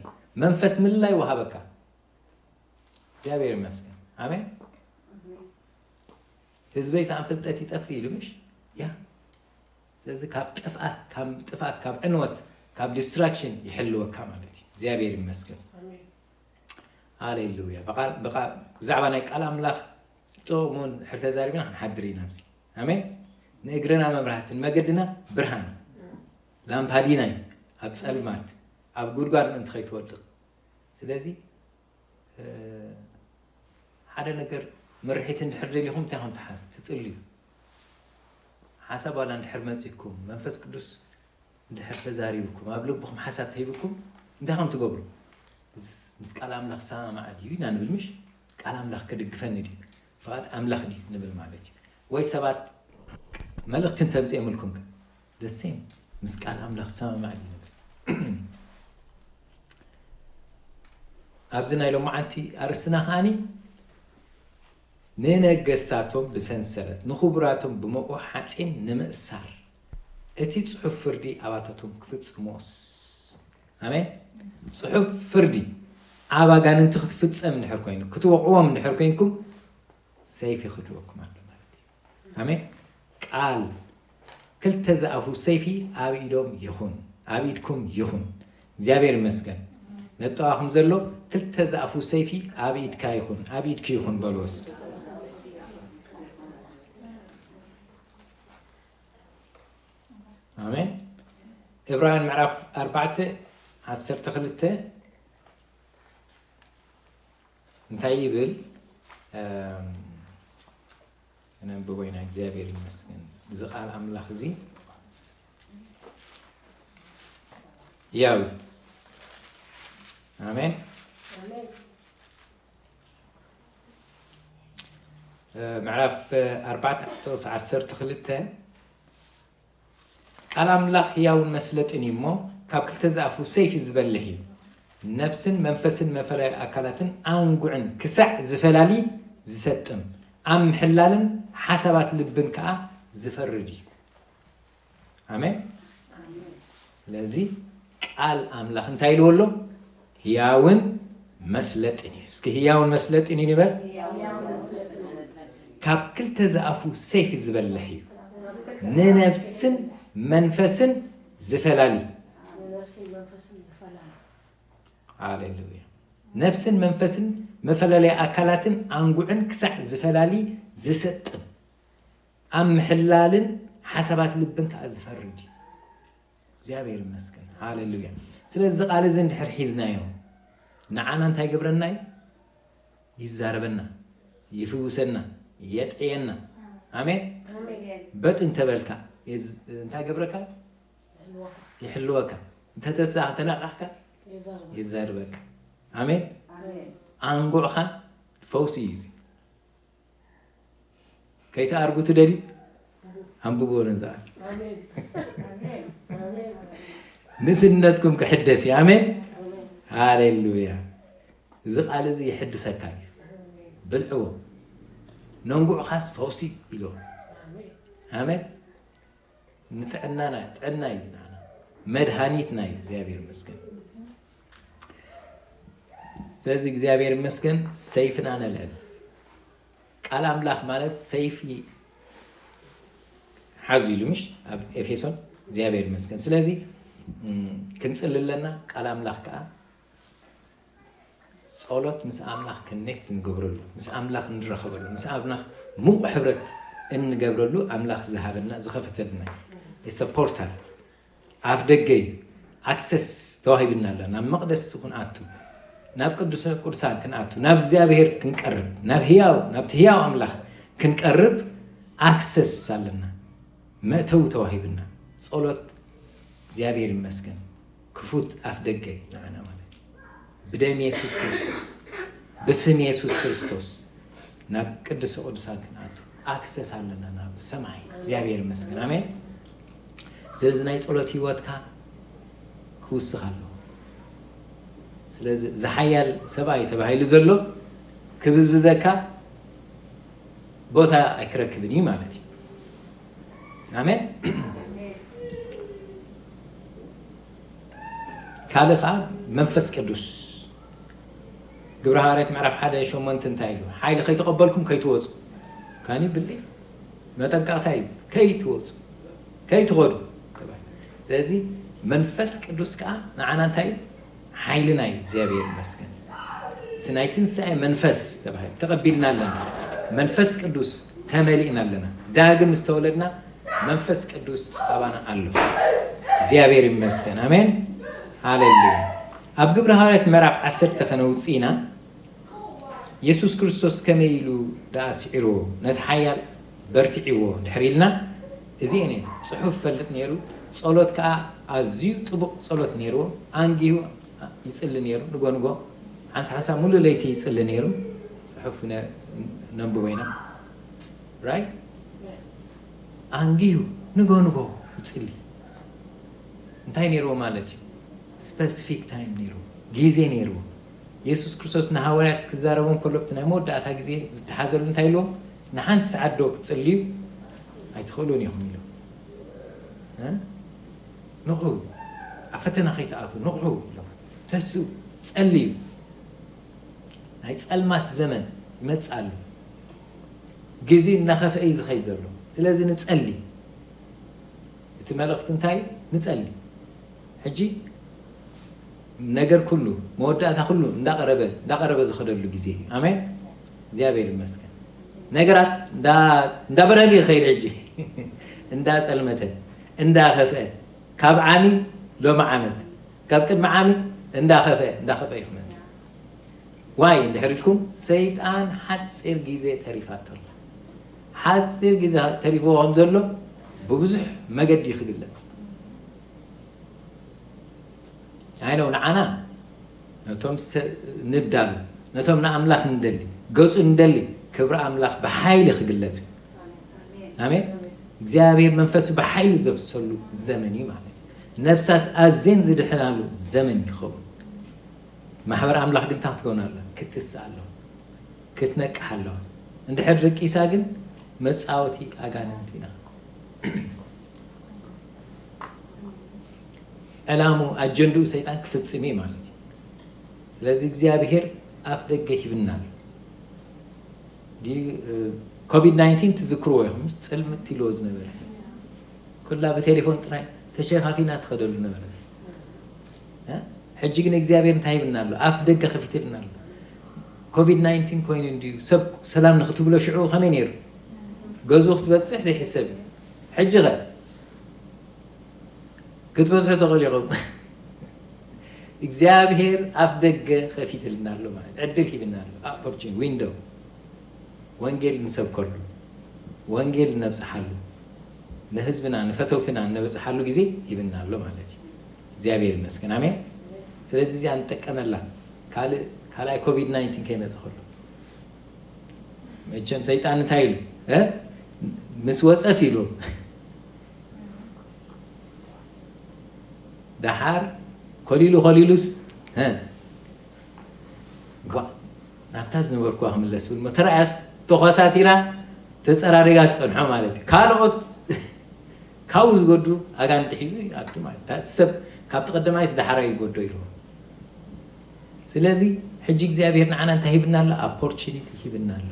መንፈስ ምልላይ ይወሃበካ እግዚኣብሔር ይመስገን ኣሜን ህዝበይ ሳኣን ፍልጠት ይጠፍእ ኢሉ ምሽ ያ ስለዚ ካብ ጥፍኣት ካብ ጥፍኣት ካብ ዕንወት ካብ ዲስትራክሽን ይሕልወካ ማለት እዩ እግዚኣብሔር ይመስገን ሃሌሉያ ብዛዕባ ናይ ቃል ኣምላኽ ጥቕሙን ሕር ተዛሪብና ክንሓድር ኢና ኣብዚ ኣሜን ንእግርና መብራህቲ ንመገድና ብርሃን ላምፓዲና እዩ ኣብ ፀልማት ኣብ ጉድጓድ ምእንቲ ከይትወድቕ ስለዚ ሓደ ነገር ምርሒት እንድሕር ደሊኹም እንታይ ከም ትሓዝ ትጽልዩ ሓሳብ ዋላ እንድሕር መጺኩም መንፈስ ቅዱስ እንድሕር ተዛሪብኩም ኣብ ልብኹም ሓሳብ ተሂብኩም እንታይ ከም ትገብሩ ምስ ቃል ኣምላኽ ሰማማዕ ድዩ ኢና ንብል ምሽ ቃል ኣምላኽ ክድግፈኒ ድዩ ፍቓድ ኣምላኽ ድዩ ንብል ማለት እዩ ወይ ሰባት መልእኽቲ እንተምፅኦምልኩም the same ምስ ቃል ኣምላኽ ዝሰማማዕ እዩ ዝነብር ኣብዚ ናይ ሎማዓንቲ ኣርእስትና ከዓኒ ንነገስታቶም ብሰንሰለት ንኽቡራቶም ብመቑ ሓፂን ንምእሳር እቲ ፅሑፍ ፍርዲ ኣባታቶም ክፍፅሞስ ኣሜን ፅሑፍ ፍርዲ ኣብ ኣጋንንቲ ክትፍፀም እንድሕር ኮይኑ ክትወቕዎም እንድሕር ኮይንኩም ሰይፊ ክህልወኩም ኣሎ ኣሜን ቃል ክልተ ዝኣፉ ሰይፊ ኣብ ኢዶም ይኹን ኣብ ኢድኩም ይኹን እግዚኣብሔር ይመስገን ነጠዋኹም ዘሎ ክልተ ዝኣፉ ሰይፊ ኣብ ኢድካ ይኹን ኣብ ኢድኪ ይኹን በልዎስ ኣሜን ዕብራውያን ምዕራፍ ኣርባዕተ ዓሰርተ ክልተ እንታይ ይብል ነንብቦ ኢና እግዚኣብሔር ይመስገን እዚ ቃል ኣምላኽ እዚ ያው ኣሜን ምዕራፍ ኣርባዕተ ጥቕስ ዓሰርተ ክልተ ቃል ኣምላኽ ህያውን መስለጥን እዩ እሞ፣ ካብ ክልተ ዝኣፉ ሰይፊ ዝበልህ እዩ፣ ነፍስን መንፈስን መፈላዩ ኣካላትን ኣንጉዕን ክሳዕ ዚፈላሊ ዚሰጥም፣ ኣብ ምሕላልን ሓሳባት ልብን ከኣ ዚፈርድ እዩ። ኣሜን። ስለዚ ቃል ኣምላኽ እንታይ ኢልዎ ኣሎ ህያውን መስለጥን እዩ እስኪ ህያውን መስለጥን እዩ ንበል ካብ ክልተ ዝኣፉ ሰይፊ ዝበልሕ እዩ ንነብስን መንፈስን ዝፈላሊ ሃሌሉያ ነብስን መንፈስን መፈላለያ ኣካላትን ኣንጉዕን ክሳዕ ዝፈላሊ ዝሰጥም ኣብ ምሕላልን ሓሳባት ልብን ከዓ ዝፈርድ እዩ እግዚኣብሔር ይመስገን ሃሌሉያ ስለዚ ቃል እዚ እንድሕር ሒዝናዮ ንዓና እንታይ ገብረና እዩ ይዛረበና ይፍውሰና የጥዕየና ኣሜን በጥ እንተበልካ እንታይ ገብረካ ይሕልወካ እንተተሳ ተናቃሕካ ይዛርበካ ኣሜን ኣንጉዕኻ ፈውሲ እዩ ከይትኣርጉ ትደልዩ ኣንብብዎ ንዝኣ ንስነትኩም ክሕደስ እዩ ኣሜን ሃሌሉያ እዚ ቃል እዚ ይሕድሰካ እዩ ብልዕዎ ነንጉዕኻስ ፈውሲ ኢሎ ኣሜን ንጥዕናና ጥዕና እዩ መድሃኒትና እዩ እግዚኣብሔር ይመስገን ስለዚ እግዚኣብሔር ይመስገን ሰይፍና ነልዕል። ቃል ኣምላኽ ማለት ሰይፊ ሓዙ ኢሉ ምሽ ኣብ ኤፌሶን እግዚኣብሔር ይመስገን። ስለዚ ክንፅሊ ኣለና። ቃል ኣምላኽ ከዓ ጸሎት ምስ ኣምላኽ ከኔክት እንገብረሉ ምስ ኣምላኽ እንረኸበሉ ምስ ኣምላኽ ምቑ ሕብረት እንገብረሉ ኣምላኽ ዝሃበና ዝኸፈተልና ሰፖርታል ኣፍ ደገ እዩ ኣክሰስ ተዋሂብና ኣሎ ናብ መቅደስ ክንኣቱ ናብ ቅዱሰ ቅዱሳን ክንኣቱ ናብ እግዚኣብሔር ክንቀርብ ናብ ህያው ናብቲ ህያው ኣምላኽ ክንቀርብ ኣክሰስ ኣለና መእተዊ ተዋሂብና ጸሎት እግዚኣብሔር ይመስገን ክፉት ኣፍ ደገ ንዓና ማለት ብደም የሱስ ክርስቶስ ብስም የሱስ ክርስቶስ ናብ ቅዱስ ቅዱሳት ክንኣቱ ኣክሰስ ኣለና ናብ ሰማይ እግዚኣብሔር ይመስገን ኣሜን ስለዚ ናይ ፀሎት ህይወትካ ክውስኽ ኣለዎ ስለዚ ዝሓያል ሰብኣይ ተባሂሉ ዘሎ ክብዝብዘካ ቦታ ኣይክረክብን እዩ ማለት እዩ ኣሜን ካልእ ከኣ መንፈስ ቅዱስ ግብረ ሃዋርያት ምዕራፍ ሓደ ሸሞንት እንታይ ኢሉ ሓይሊ ከይተቐበልኩም ከይትወፁ ካኒ ብሊ መጠንቀቕታ እዩ ከይትወፁ ከይትኸዱ ስለዚ መንፈስ ቅዱስ ከዓ ንዓና እንታይ እዩ ሓይልና እዩ እግዚኣብሔር ይመስገን እቲ ናይ ትንሳኤ መንፈስ ተባሂሉ ተቐቢልና ኣለና መንፈስ ቅዱስ ተመሊእና ኣለና ዳግም ዝተወለድና መንፈስ ቅዱስ ኣባና ኣሎ። እግዚኣብሔር ይመስገን። ኣሜን ሃሌሉያ። ኣብ ግብረ ሃዋርያት ምዕራፍ ዓሰርተ ከነውፅ ኢና። የሱስ ክርስቶስ ከመይ ኢሉ ደኣ ስዒርዎ ነቲ ሓያል በርቲዕዎ ድሕሪ ኢልና እዚኤን እዩ ፅሑፍ ፈልጥ ነይሩ ጸሎት ከዓ ኣዝዩ ጥቡቕ ጸሎት ነይርዎ ኣንጊሁ ይፅሊ ነይሩ ንጎንጎ ሓንሳ ሓንሳ ሙሉእ ለይቲ ይፅሊ ነይሩ ፅሑፍ ነንብቦ ኢና ራይ ኣንጊሁ ንግሆ ንግሆ ይጽሊ። እንታይ ነይርዎ ማለት እዩ? ስፐሲፊክ ታይም ነይርዎ፣ ግዜ ነይርዎ። የሱስ ክርስቶስ ንሃዋርያት ክዛረቦም ከሎ እቲ ናይ መወዳእታ ግዜ ዝተሓዘሉ እንታይ ኢልዎም? ንሓንቲ ሰዓት ዶ ክትጽልዩ ኣይትኽእሉን ኢኹም ኢሉ። ንቑ ኣብ ፈተና ከይትኣትዉ ንቑ ኢሎም ተስኡ ጸልዩ። ናይ ጸልማት ዘመን ይመጽእ ኣሎ። ግዜኡ እናኸፍኤ እዩ ዝኸይድ ዘሎ። ስለዚ ንጸሊ። እቲ መልእኽቲ እንታይ እዩ? ንጸሊ። ሕጂ ነገር ኩሉ መወዳእታ ኩሉ እንዳቐረበ እንዳቐረበ ዝኸደሉ ግዜ እዩ። ኣሜን። እግዚኣብሔር ይመስገን። ነገራት እንዳበረሊ ይኸይድ ሕጂ እንዳጸልመተ እንዳኸፍአ ካብ ዓሚ ሎሚ ዓመት ካብ ቅድሚ ዓሚ እንዳኸፍአ እንዳኸፍአ ይክመጽእ ዋይ እንድሕር ኢልኩም ሰይጣን ሓጺር ግዜ ተሪፋቶ ኣላ። ሓጺር ግዜ ተሪፍዎ ከም ዘሎ ብብዙሕ መገዲ እዩ ክግለጽ። ኣይነው ንዓና ነቶም ንዳሉ ነቶም ንኣምላኽ ንደሊ ገጹ ንደሊ ክብሪ ኣምላኽ ብሓይሊ ክግለጽ እዩ። ኣሜን። እግዚኣብሔር መንፈሱ ብሓይሊ ዘፍሰሉ ዘመን እዩ ማለት እዩ። ነብሳት ኣዝየን ዝድሕናሉ ዘመን ይኸውን። ማሕበር ኣምላኽ ግን እንታይ ክትከውን ኣለዋ? ክትትስእ ኣለዋ፣ ክትነቅሕ ኣለዋ። እንድሕር ደቂሳ ግን መጻወቲ ኣጋንንቲ ኢና። ዕላሙ ኣጀንድኡ ሰይጣን ክፍጽም እዩ ማለት እዩ። ስለዚ እግዚኣብሄር ኣፍ ደገ ሂብና ኣሎ። ኮቪድ 19 ትዝክርዎ ኢኹም ምስ ፅልምት ኢልዎ ዝነበረ ኩላ ብቴሌፎን ጥራይ ተሸፋፊና ትኸደሉ ነበረ ሕጂ ግን እግዚኣብሔር እንታይ ይብልና ኣሎ ኣፍ ደገ ከፊትልና ኣሎ ኮቪድ ናይንቲን ኮይኑ እንድዩ ሰብ ሰላም ንክትብሎ ሽዑ ከመይ ነይሩ ገዝኡ ክትበፅሕ ዘይሕሰብ እዩ ሕጂ ኸ ክትበዝሑ ተኽእሉ ኢኹም እግዚኣብሔር ኣፍ ደገ ከፊትልና ኣሎ ማለት ዕድል ሂብና ኣሎ ኣፖርቹን ዊንዶ ወንጌል ንሰብከሉ ወንጌል እነብፅሓሉ ንህዝብና ንፈተውትና እነበፅሓሉ ግዜ ሂብና ኣሎ ማለት እዩ እግዚኣብሔር ይመስገን ኣሜን ስለዚ እዚኣ ንጠቀመላ ካልእ ካልኣይ ኮቪድ ናይንቲን ከይመፀ ከሎ መቸም ሰይጣን እንታይ ኢሉ እ? ምስ ወፀስ ኢሉ ደሓር ኮሊሉ ኮሊሉስ እ? ዋእ ናብታ ዝነበርኩዋ ክምለስ ብል እሞ ተረኣያስ ተኳሳቲራ ተፀራሪጋ ትፀንሖ ማለት እዩ ካልኦት ካብኡ ዝጎዱ ኣጋንቲ ሒዙ ይኣቱ ማለት እዩ እቲ ሰብ ካብቲ ቀዳማይስ ዳሓራ ይጎዶ ኢልዎ ስለዚ ሕጂ እግዚኣብሄር ንዓና እንታይ ሂብና ኣሎ ኣፖርቹኒቲ ሂብና ኣሎ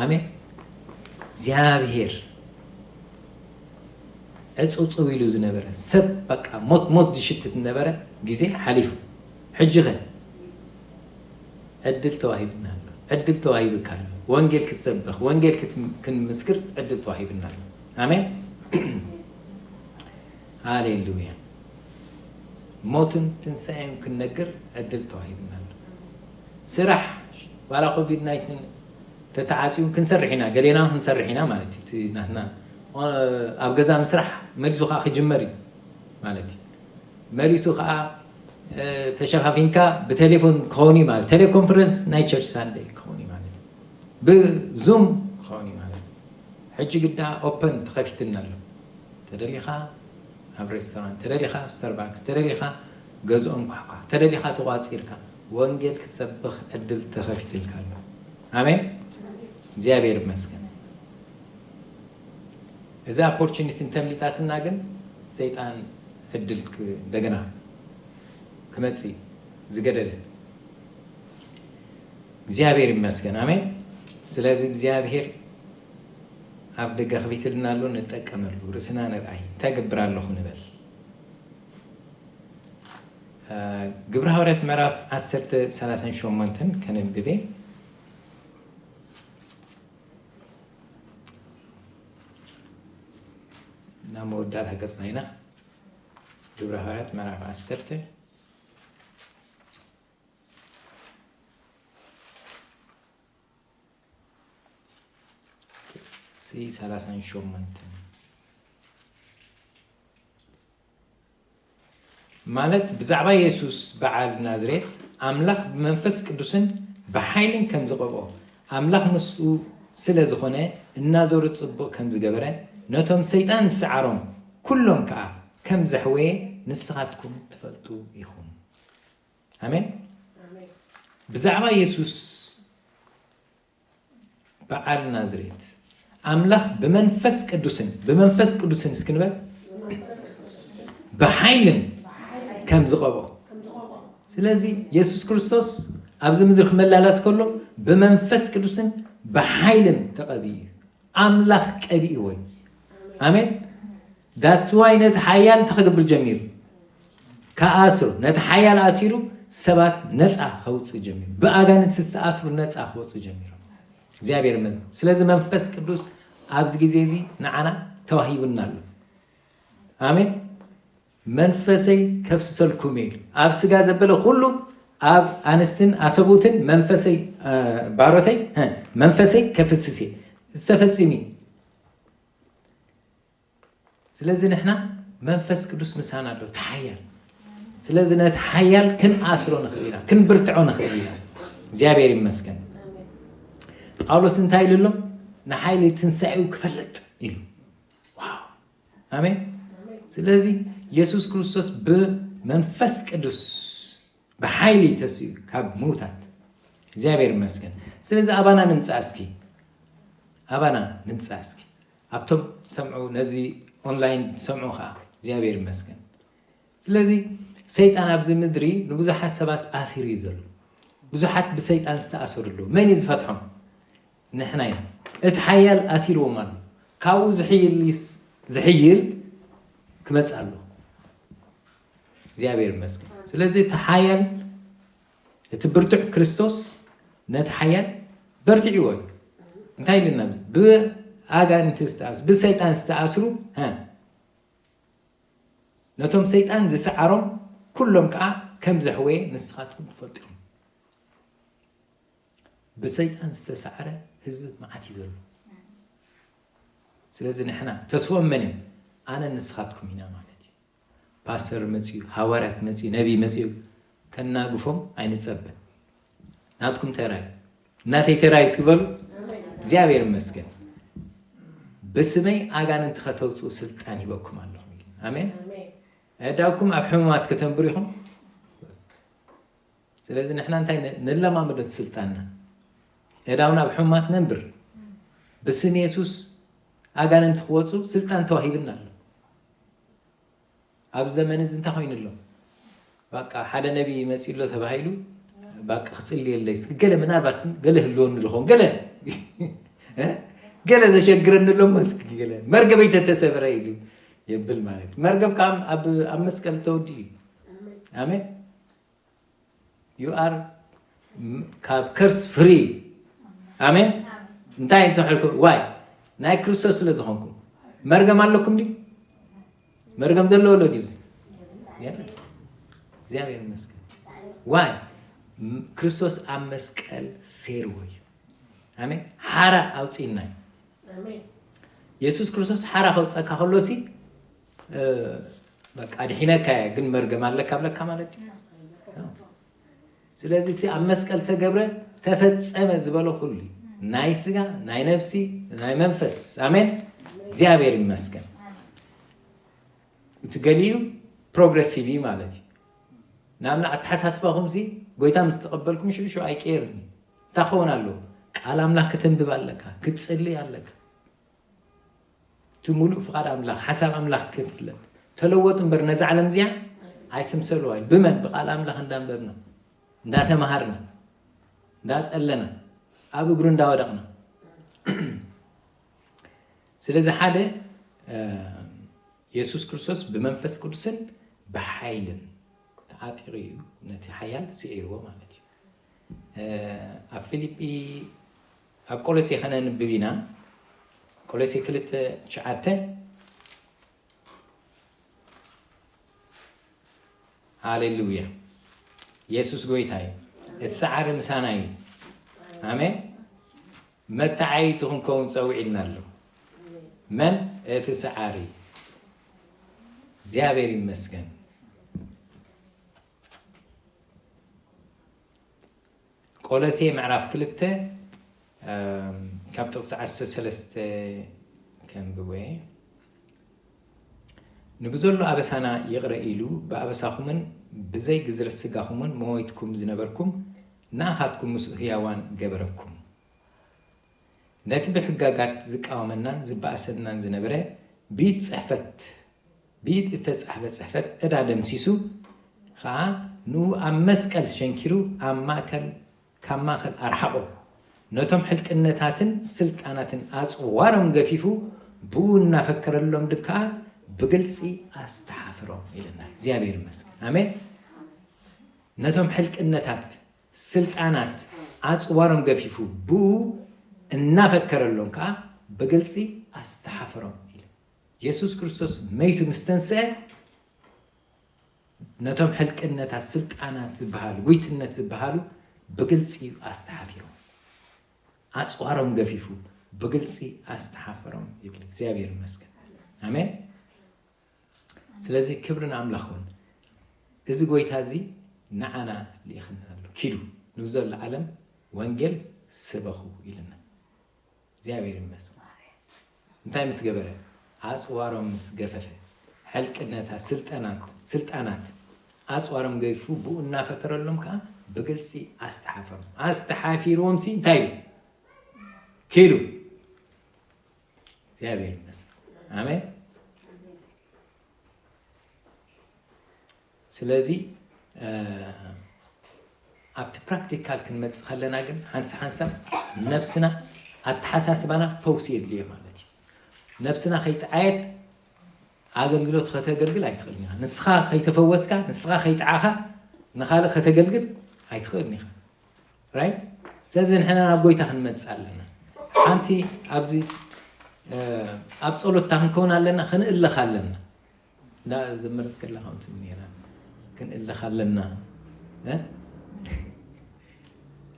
ኣሜን እግዚኣብሄር ዕፅውፅው ኢሉ ዝነበረ ሰብ በቃ ሞት ሞት ዝሽትት ነበረ ግዜ ሓሊፉ ሕጂኸ ዕድል ተዋሂብና ኣሎ፣ ዕድል ተዋሂብካ ኣሎ፣ ወንጌል ክትሰብኽ፣ ወንጌል ክንምስክር ዕድል ተዋሂብና ኣሎ። ኣሜን ሃሌሉያ። ሞትን ትንሣኤን ክንነግር ዕድል ተዋሂብና ኣሎ። ስራሕ ዋላ ኮቪድ ናይትን ተተዓፅዩ ክንሰርሕ ኢና፣ ገሌና ክንሰርሕ ኢና ማለት እዩ። እቲ ናትና ኣብ ገዛ ምስራሕ መሊሱ ከዓ ክጅመር እዩ ማለት እዩ። መሊሱ ከኣ ተሸፋፊንካ ብቴሌፎን ክኸውን እዩ ማለት ቴሌኮንፈረንስ ናይ ቸርች ሳንደይ ክኸውን እዩ ማለት ብዙም ክኸውን እዩ ማለት ሕጂ ግዳ ኦፐን ተኸፊትኒ ኣሎ ተደሊኻ ኣብ ሬስቶራንት ተደሊኻ ኣብ ስተርባክስ ተደሊኻ ገዝኦም ኳሕኳሕ ተደሊኻ ተቋፂርካ ወንጌል ክትሰብኽ ዕድል ተኸፊትልካ ኣሎ ኣሜን እግዚኣብሔር ይመስገን እዛ ኣፖርችኒቲ እንተምሊጣትና ግን ሰይጣን ዕድል እንደገና ክመጽእ እዩ ዝገደደ። እግዚኣብሔር ይመስገን ኣሜን። ስለዚ እግዚኣብሔር ኣብ ደገ ክፊትልና ኣሎ ንጠቀመሉ፣ ርእስና ንርኣይ፣ እንታይ ገብር ኣለኹ ንበል። ግብረ ሃዋርያት ምዕራፍ 10 38 ከነንብቤ ናብ መወዳእታ ገፅና ኢና ግብረ ሃዋርያት ምዕራፍ ዓሰርተ ሰላሳን ሸሞንተን ማለት ብዛዕባ የሱስ በዓል ናዝሬት ኣምላኽ ብመንፈስ ቅዱስን ብሓይልን ከም ዝቐብኦ ኣምላኽ ምስኡ ስለ ዝኾነ እናዞረ ጽቡቕ ከም ዝገበረ ነቶም ሰይጣን ዝሰዓሮም ኩሎም ከኣ ከም ዘሕወየ ንስኻትኩም ትፈልጡ ኢኹም ኣሜን ብዛዕባ የሱስ በዓል ናዝሬት ኣምላኽ ብመንፈስ ቅዱስን ብመንፈስ ቅዱስን እስኪ ንበል ብሓይልን ከም ዝቐቦ ስለዚ የሱስ ክርስቶስ ኣብዚ ምድሪ ክመላላስ ከሎ ብመንፈስ ቅዱስን ብሓይልን ተቐቢኡ እዩ ኣምላኽ ቀቢእዎ እዩ ኣሜን That's why ነቲ ሓያል እንታይ ክገብር ጀሚሩ ክኣስር ነቲ ሓያል ኣሲሩ ሰባት ነፃ ከውፅእ ጀሚሩ ብኣጋንንቲ ዝተኣስሩ ነፃ ክወፁ ጀሚሮም እግዚኣብሔር ይመስገን ስለዚ መንፈስ ቅዱስ ኣብዚ ግዜ እዚ ንዓና ተዋሂቡና ኣሎ ኣሜን መንፈሰይ ከፍስሰልኩም ኢሉ ኣብ ስጋ ዘበለ ኩሉ ኣብ ኣንስትን ኣሰብኡትን መንፈሰይ ባሮተይ መንፈሰይ ከፍስስ እየ ዝተፈፂሙ እዩ ስለዚ ንሕና መንፈስ ቅዱስ ምሳና ኣሎ እቲ ሓያል ስለዚ ነቲ ሓያል ክንኣስሮ ንኽእል ኢና ክንብርትዖ ንኽእል ኢና እግዚኣብሔር ይመስገን ጳውሎስ እንታይ ኢሉ ኣሎ ንሓይሊ ትንሳኤኡ ክፈልጥ ኢሉ ዋው ኣሜን ስለዚ የሱስ ክርስቶስ ብመንፈስ ቅዱስ ብሓይሊ ተሲኡ ካብ ምውታት እግዚኣብሔር ይመስገን ስለዚ ኣባና ንምፃእ እስኪ ኣባና ንምፃእ እስኪ ኣብቶም ዝሰምዑ ነዚ ኦንላይን ዝሰምዑ ከዓ እግዚኣብሔር ይመስገን ስለዚ ሰይጣን ኣብዚ ምድሪ ንብዙሓት ሰባት ኣሲሩ እዩ ዘሎ ብዙሓት ብሰይጣን ዝተኣሰሩ ኣለዉ መን እዩ ዝፈትሖም ንሕና ኢና እቲ ሓያል ኣሲርዎም ኣሎ ካብኡ ዝሕይል ዝሕይል ክመፅእ ኣለዎ እግዚኣብሔር ይመስገን። ስለዚ እቲ ሓያል እቲ ብርቱዕ ክርስቶስ ነቲ ሓያል በርትዕዎ እዩ። እንታይ ኢልና ብኣጋንንቲ ዝተኣስሩ ብሰይጣን ዝተኣስሩ ነቶም ሰይጣን ዝሰዓሮም ኩሎም ከዓ ከም ዘሕወየ ንስኻትኩም ትፈልጡ ኢኹም። ብሰይጣን ዝተሰዓረ ህዝቢ መዓት እዩ ዘሎ። ስለዚ ንሕና ተስፎኦም መን እዮም? ኣነ ንስኻትኩም ኢና ማለት ፓስተር መጺኡ ሃዋርያት መጺኡ ነቢ መጺኡ ከናግፎም ኣይንጸበ ናትኩም ተራይ ናተይ ተራይ እስኪ በሉ እግዚኣብሔር ይመስገን ብስመይ ኣጋንንቲ ከተውፅኡ ስልጣን ሂበኩም ኣለኹም ኣሜን ኣዳውኩም ኣብ ሕሙማት ከተንብሩ ኢኹም ስለዚ ንሕና እንታይ ንለማመዶት ስልጣንና እዳውና ኣብ ሕሙማት ነንብር ብስም የሱስ ኣጋንንቲ ክወፁ ስልጣን ተዋሂብና ኣሎ ኣብዚ ዘመን እዚ እንታይ ኮይኑ ኣሎ ባቃ ሓደ ነቢ መፂኡ ኣሎ ተባሂሉ ባቃ ክፅልየለይ እስኪ ገለ ምናልባት ገለ ህልወኒ ድኾን ገለ ገለ ዘሸግረኒ ኣሎ መስኪ ገለ መርገበይ ተተሰብረ ኢሉ የብል ማለት መርገብ ከዓ ኣብ መስቀል ተወዲኡ እዩ ኣሜን ዩ ኣር ካብ ከርስ ፍሪ ኣሜን እንታይ እንተሕልኩ ዋይ ናይ ክርስቶስ ስለ ዝኾንኩም መርገም ኣለኩም ድዩ መርገም ዘለዎ ሎ ድዩ እግዚኣብሔር ይመስገን ዋይ ክርስቶስ ኣብ መስቀል ሴርዎ እዩ ኣሜን ሓራ ኣውፅእና እዩ የሱስ ክርስቶስ ሓራ ከውፀካ ከሎ ሲ በቃ ኣድሒነካ እየ ግን መርገም ኣለካ ብለካ ማለት እዩ ስለዚ እቲ ኣብ መስቀል ተገብረ ተፈጸመ ዝበለ ኩሉ እዩ ናይ ስጋ ናይ ነፍሲ ናይ መንፈስ ኣሜን እግዚኣብሔር ይመስገን እቲ ገሊኡ ፕሮግረሲቭ እዩ ማለት እዩ ንኣብና ኣተሓሳስባኹም ሲ ጎይታ ምስ ተቐበልኩም ሽዑ ሽዑ ኣይቀየርን እዩ እንታይ ክኸውን ኣለዎ ቃል ኣምላኽ ከተንብብ ኣለካ ክትፅልይ ኣለካ እቲ ሙሉእ ፍቃድ ኣምላኽ ሓሳብ ኣምላኽ ክንፍለጥ ተለወጡ እምበር ነዛ ዓለም እዚኣ ኣይትምሰልዋ እዩ ብመን ብቃል ኣምላኽ እንዳንበብና እንዳተማሃርና እንዳጸለና ኣብ እግሩ እንዳወደቕና ስለዚ ሓደ የሱስ ክርስቶስ ብመንፈስ ቅዱስን ብሓይልን ተዓጢሩ እዩ ነቲ ሓያል ስዒርዎ ማለት እዩ ኣብ ፊልጲ ኣብ ቆሎሴ ከነንብብ ኢና ቆሎሴ ክልተ ትሽዓተ ሃሌሉያ የሱስ ጎይታ እዩ እቲ ሰዓሪ ምሳና እዩ ኣሜን መተዓይቱ ክንከውን ፀዊዒልና ኣሎ መን እቲ ሰዓሪ እግዚኣብሔር ይመስገን ቆሎሴ ምዕራፍ ክልተ ካብ ጥቕሲ ዓሰርተ ሰለስተ ከንብብ እየ። ንብዘሎ ኣበሳና ይቕረ ኢሉ ብኣበሳኹምን ብዘይ ግዝረት ስጋኹምን መወይትኩም ዝነበርኩም ንኣኻትኩም ምስኡ ህያዋን ገበረኩም። ነቲ ብሕጋጋት ዝቃወመናን ዝበኣሰናን ዝነበረ ብኢድ ጽሕፈት ብኢድ እተጻሕፈ ጽሕፈት ዕዳ ደምሲሱ ኸኣ ንኡ ኣብ መስቀል ሸንኪሩ ኣብ ማእከል ካብ ማእከል ኣርሓቖ። ነቶም ሕልቅነታትን ስልጣናትን ኣጽዋሮም ገፊፉ ብኡ እናፈከረሎም ድብ ከኣ ብግልጺ ኣስተሓፍሮም ኢለና እግዚኣብሔር ይመስገን ኣሜን ነቶም ሕልቅነታት ስልጣናት ኣጽዋሮም ገፊፉ ብእኡ እናፈከረሎም ከኣ ብግልጺ ኣስተሓፈሮም ኢሉ። የሱስ ክርስቶስ መይቱ ምስ ተንስአ ነቶም ሕልቅነታት ስልጣናት ዝበሃሉ ጉይትነት ዝበሃሉ ብግልጺ እዩ ኣስተሓፊሮም። ኣጽዋሮም ገፊፉ ብግልጺ ኣስተሓፈሮም ይብል። እግዚኣብሔር ይመስገን። ኣሜን። ስለዚ ክብሪ ንኣምላኽ ኹን። እዚ ጎይታ እዚ ንዓና ልኢኽና ኣሎ ኪዱ ንብዘሎ ዓለም ወንጌል ስበኹ ኢልና እግዚኣብሔር ይመስገን። እንታይ ምስ ገበረ ኣፅዋሮም ምስ ገፈፈ ሕልቅነታት ስልጠናት ስልጣናት ኣፅዋሮም ገይፉ ብኡ እናፈከረሎም ከዓ ብግልፂ ኣስተሓፈሮም ኣስተሓፊርዎም ሲ እንታይ ኢሉ ኪዱ እግዚኣብሔር ይመስገን ኣሜን ስለዚ ኣብቲ ፕራክቲካል ክንመፅእ ከለና ግን ሓንሳ ሓንሳ ነብስና ኣተሓሳስባና ፈውሲ የድልዮ ማለት እዩ ነብስና ከይተዓየት ኣገልግሎት ከተገልግል ኣይትኽእልን ኢኻ ንስኻ ከይተፈወስካ ንስኻ ከይጠዓኻ ንካልእ ከተገልግል ኣይትኽእልን ኢኻ ራይት ስለዚ ንሕና ናብ ጎይታ ክንመፅእ ኣለና ሓንቲ ኣብዚ ኣብ ፀሎትታ ክንከውን ኣለና ክንእለኽ ኣለና እንዳ ዘመረት ከላ ከምቲ ነራ ክንእለኽ ኣለና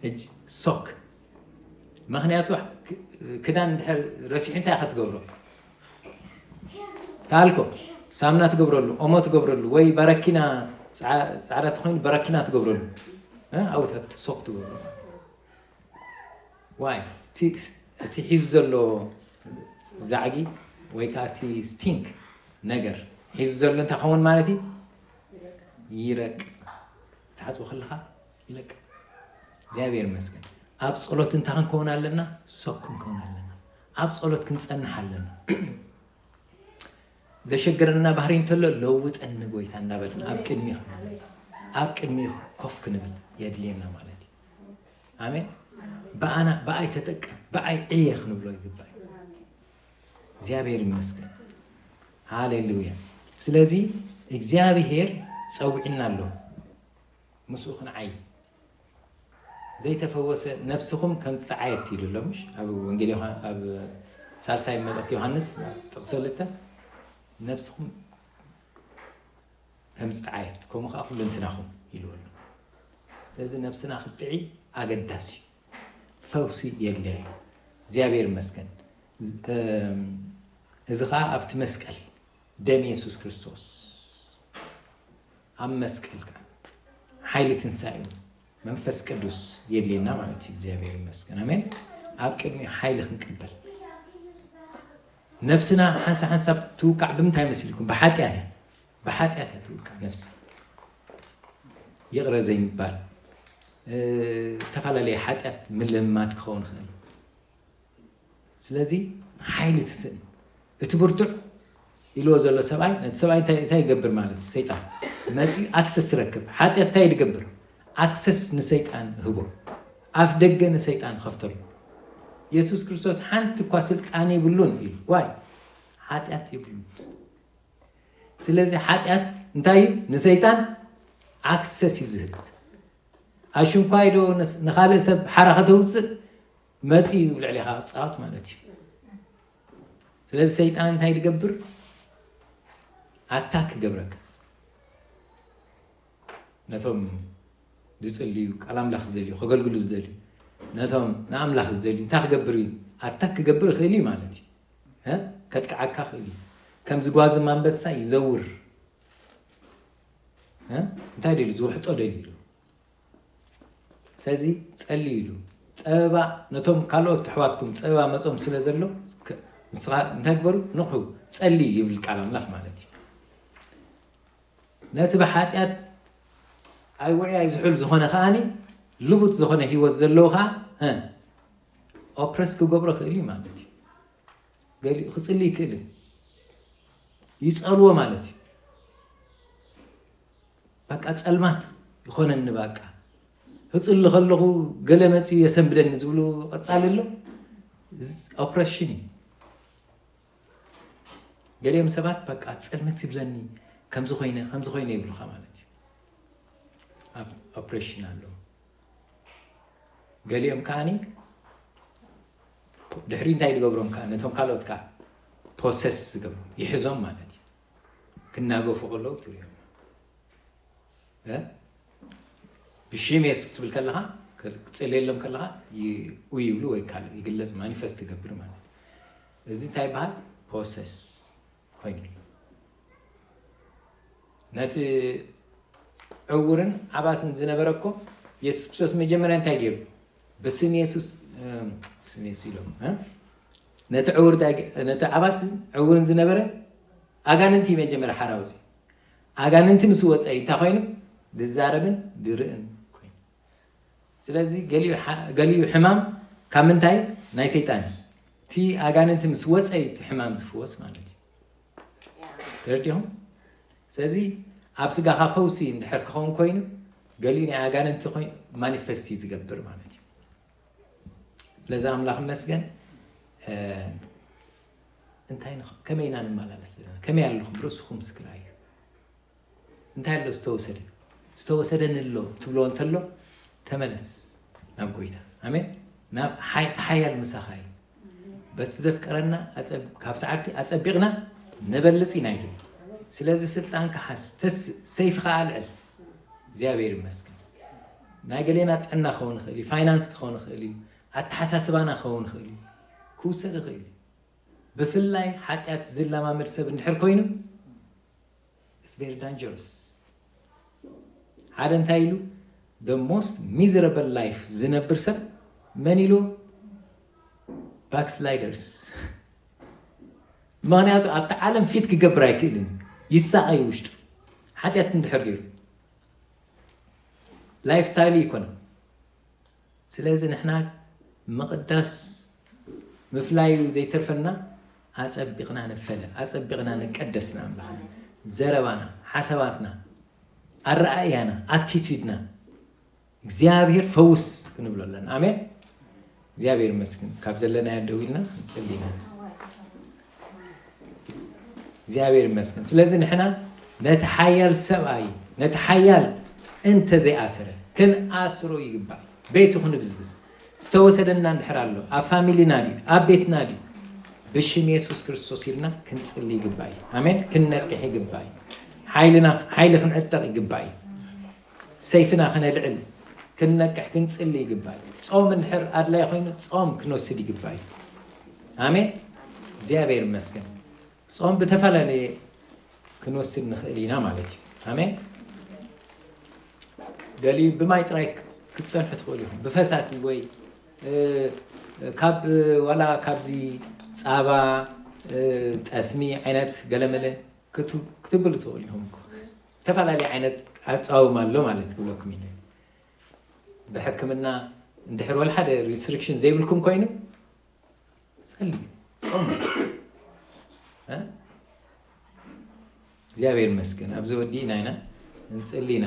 ሕጂ ሶክ ምክንያቱ ክዳን እንድሕር ረሲሑ እንታይ ክትገብሮ ታልኮ ሳምና ትገብረሉ ኦሞ ትገብረሉ ወይ ባረኪና ፃዕዳ ተኮይኑ በረኪና ትገብረሉ ኣብኡ ሶክ ትገብሩ ዋይ እቲ ሒዙ ዘሎ ዛዕጊ ወይ ከዓ እቲ ስቲንክ ነገር ሒዙ ዘሎ እንታይ ከውን ማለት እዩ ይረቅ ተሓፅቦ ከለካ ይለቅ እግዚኣብሔር ይመስገን ኣብ ፀሎት እንታይ ክንከውን ኣለና ሶክ ክንከውን ኣለና ኣብ ጸሎት ክንጸንሕ ኣለና። ዘሸገረና ባህሪ እንተሎ ለውጠኒ ጎይታ እናበልና ኣብ ቅድሚ ክንመፅ ኣብ ቅድሚ ኮፍ ክንብል የድልየና ማለት እዩ። ኣሜን። ብኣና ብኣይ ተጠቀም ብኣይ ዕየ ክንብሎ ይግባእ እዩ። እግዚኣብሔር ይመስገን። ሃሌሉያ። ስለዚ እግዚኣብሔር ጸውዒና ኣሎ። ምስኡ ክንዓዪ ዘይተፈወሰ ነፍስኹም ከም ዝጠዓየት ኢሉ ኣሎ ምሽ ኣብ ወንጌል ኣብ ሳልሳይ መልእኽቲ ዮሃንስ ጥቕሲ ክልተ ነፍስኹም ከም ዝጠዓየት ከምኡ ከዓ ኩሉ እንትናኹም ኢልዎ ኣሎ ስለዚ ነብስና ክትጥዒ ኣገዳሲ እዩ ፈውሲ የድልያ እዩ እግዚኣብሔር ይመስገን እዚ ከዓ ኣብቲ መስቀል ደም የሱስ ክርስቶስ ኣብ መስቀል ከኣ ሓይሊ ትንሳኤኡ መንፈስ ቅዱስ የድልየና ማለት እዩ እግዚኣብሔር ይመስገን ኣሜን ኣብ ቅድሚ ሓይሊ ክንቅበል ነብስና ሓንሳ ሓንሳብ ትውቃዕ ብምንታይ መሲልኩም ብሓጢኣት እያ ብሓጢኣት እያ ትውቃዕ ነብሲ ይቕረ ዘይምባል ዝተፈላለየ ሓጢኣት ምልማድ ክኸውን ይኽእል ስለዚ ሓይሊ እቲ ስእሊ እቲ ብርቱዕ ኢልዎ ዘሎ ሰብኣይ ነቲ ሰብኣይ እንታይ እንታይ ይገብር ማለት እዩ ሰይጣን መፂኡ ኣክሰስ ትረክብ ሓጢኣት እንታይ ድገብር ኣክሰስ ንሰይጣን ህቦ ኣፍ ደገ ንሰይጣን ከፍተሉ የሱስ ክርስቶስ ሓንቲ እኳ ስልጣን ይብሉን ኢሉ ዋይ ሓጢኣት ይብሉ ስለዚ ሓጢኣት እንታይ እዩ ንሰይጣን ኣክሰስ እዩ ዝህብ ኣሽንኳይ ዶ ንካልእ ሰብ ሓራ ከተውፅእ መጺኡ ኣብ ልዕሌኻ ክጻወት ማለት እዩ ስለዚ ሰይጣን እንታይ ዝገብር ኣታክ ይገብረካ ነቶም ዝፅልዩ ቃል ኣምላኽ ዝደልዩ ከገልግሉ ዝደልዩ ነቶም ንኣምላኽ ዝደልዩ እንታይ ክገብር እዩ ኣታክ ክገብር ይኽእል እዩ ማለት እዩ ከጥቅዓካ ክእል እዩ ከም ዝጓዚ ማንበሳ ይዘውር እንታይ ደልዩ ዝውሕጦ ደልዩ ስለዚ ጸልዩ ኢሉ ጸበባ ነቶም ካልኦት ኣሕዋትኩም ጸበባ መጾም ስለ ዘሎ እንታይ ግበሩ ንቑሑ ጸልዩ ይብል ቃል ኣምላኽ ማለት እዩ ነቲ ብሓጢኣት ኣይውዒ ኣይዝሑል ዝኾነ ከዓኒ ልቡጥ ዝኾነ ሂወት ዘለዎ ከዓ ኦፕረስ ክገብሮ ክእል እዩ ማለት እዩ ገሊኡ ክፅሊ ይክእል ይፀልዎ ማለት እዩ ባቃ ጸልማት ይኾነኒ ባቃ ህጽሉ ከለኹ ገለ መጺኡ የሰንብደኒ ዝብሉ ቀጻሊ ኣሎ ኦፕሬሽን እዩ ገሊኦም ሰባት ባቃ ጸልመት ይብለኒ ከምዚ ኮይነ ከምዚ ኮይነ ይብሉካ ማለት እዩ ኣብ ኦፕሬሽን ኣሎ ገሊኦም ከዓኒ ድሕሪ እንታይ ዝገብሮም ከዓ ነቶም ካልኦት ከዓ ፖሰስ ዝገብሩ ይሕዞም ማለት እዩ ክናገፉ ከለዉ ክትሪኦም እ ብሽሜስ ክትብል ከለኻ ክትጽልየሎም ከለኻ ይኡ ይብሉ ወይ ካልእ ይግለጽ ማኒፈስት ይገብር ማለት እዩ። እዚ እንታይ ይበሃል ፖሰስ ኮይኑ ነቲ ዕውርን ዓባስን ዝነበረ እኮ የሱስ ክርስቶስ መጀመርያ እንታይ ገይሩ ብስም የሱስ ስም የሱስ ኢሎም እ? ነቲ ዕውር ዳይግ ነቲ ዓባስን ዕውርን ዝነበረ ኣጋንንቲ መጀመርያ ሓራ ኣውጽኡ። ኣጋንንቲ ምስ ወጸ እዩ እንታይ ኮይኑ ድዛረብን ድርእን ኮይኑ። ስለዚ ገሊኡ ሓ ገሊኡ ሕማም ካብ ምንታይ ናይ ሰይጣን እዩ። እቲ ኣጋንንቲ ምስ ወጸ እዩ እቲ ሕማም ዝፍወስ ማለት እዩ። ተረዲኹም? ስለዚ ኣብ ስጋኻ ፈውሲ እንድሕር ክኸውን ኮይኑ ገሊኡ ናይ ኣጋንንቲ ኮይ ማኒፈስት እዩ ዝገብር ማለት እዩ። ስለዚ ኣምላኽ ይመስገን እንታይ ከመይ ኢና ንመላለስ ዘለና ከመይ ኣለኹም ርእስኹም ምስክራ እዩ እንታይ ኣሎ ዝተወሰደ ዝተወሰደኒ ኣሎ ትብሎ እንተሎ ተመለስ ናብ ጎይታ ኣሜን ናብ ተሓያል ምሳኻ እዩ በቲ ዘፍቀረና ካብ ሰዓብቲ ኣጸቢቕና ነበልጽ ኢና ኢሉ ስለዚ ስልጣን ክሓስ ሰይፊ ከዓ ኣልዕል እግዚኣብሔር ይመስገን ናይ ገሌና ጥዕና ክኸውን ይኽእል እዩ ፋይናንስ ክኸውን ይኽእል እዩ ኣተሓሳስባና ክኸውን ይኽእል እዩ ክውሰድ ይኽእል እዩ ብፍላይ ሓጢኣት ዝለማመድ ሰብ እንድሕር ኮይኑ It's very dangerous ሓደ እንታይ ኢሉ the most miserable life ዝነብር ሰብ መን ኢሉ ባክስላይደርስ ምክንያቱ ኣብቲ ዓለም ፊት ክገብር ኣይክእልን ይሳቐይ ውሽጡ ሓጢኣት እንድሕር ገይሩ ላይፍ ስታይሉ ይኮነ ስለዚ ንሕና ምቕዳስ ምፍላዩ ዘይተርፈና ኣጸቢቕና ንፈለ ኣጸቢቕና ንቀደስ ንኣምላኽና ዘረባና ሓሳባትና ኣረኣእያና ኣቲቱድና እግዚኣብሔር ፈውስ ክንብሎ ኣለና ኣሜን እግዚኣብሔር ይመስግን ካብ ዘለናዮ ደው ኢልና ንጽሊና እግዚኣብሔር ይመስገን ስለዚ ንሕና ነቲ ሓያል ሰብኣይ ነቲ ሓያል እንተ ዘይኣስረ ክንኣስሮ ይግባእ ቤቱ ክንብዝብዝ ዝተወሰደና እንድሕር ኣሎ ኣብ ፋሚሊና ድዩ ኣብ ቤትና ድዩ ብሽም የሱስ ክርስቶስ ኢልና ክንፅሊ ይግባእ እዩ ኣሜን ክንነቅሕ ይግባእ እዩ ሓይሊ ክንዕጠቕ ይግባእ እዩ ሰይፍና ክነልዕል ክንነቅሕ ክንጽሊ ይግባይ ጾም እንድሕር ኣድላይ ኮይኑ ጾም ክንወስድ ይግባይ ኣሜን እግዚኣብሔር ይመስገን ጾም ብተፈላለየ ክንወስድ ንኽእል ኢና ማለት እዩ ኣሜን ገሊኡ ብማይ ጥራይ ክትፀንሑ ትኽእሉ ኢኹም ብፈሳሲ ወይ ካብ ዋላ ካብዚ ፃባ ጠስሚ ዓይነት ገለመለ ክትብሉ ትኽእሉ ኢኹም እኮ ዝተፈላለየ ዓይነት ኣጻውማ ኣሎ ማለት ክብለኩም ይደሊ ብሕክምና እንድሕር ወልሓደ ሪስትሪክሽን ዘይብልኩም ኮይኑ ጸልዩ ጾሙ እግዚኣብሔር ይመስገን ኣብዚ ወዲእና ኢና ንጽሊ ኢና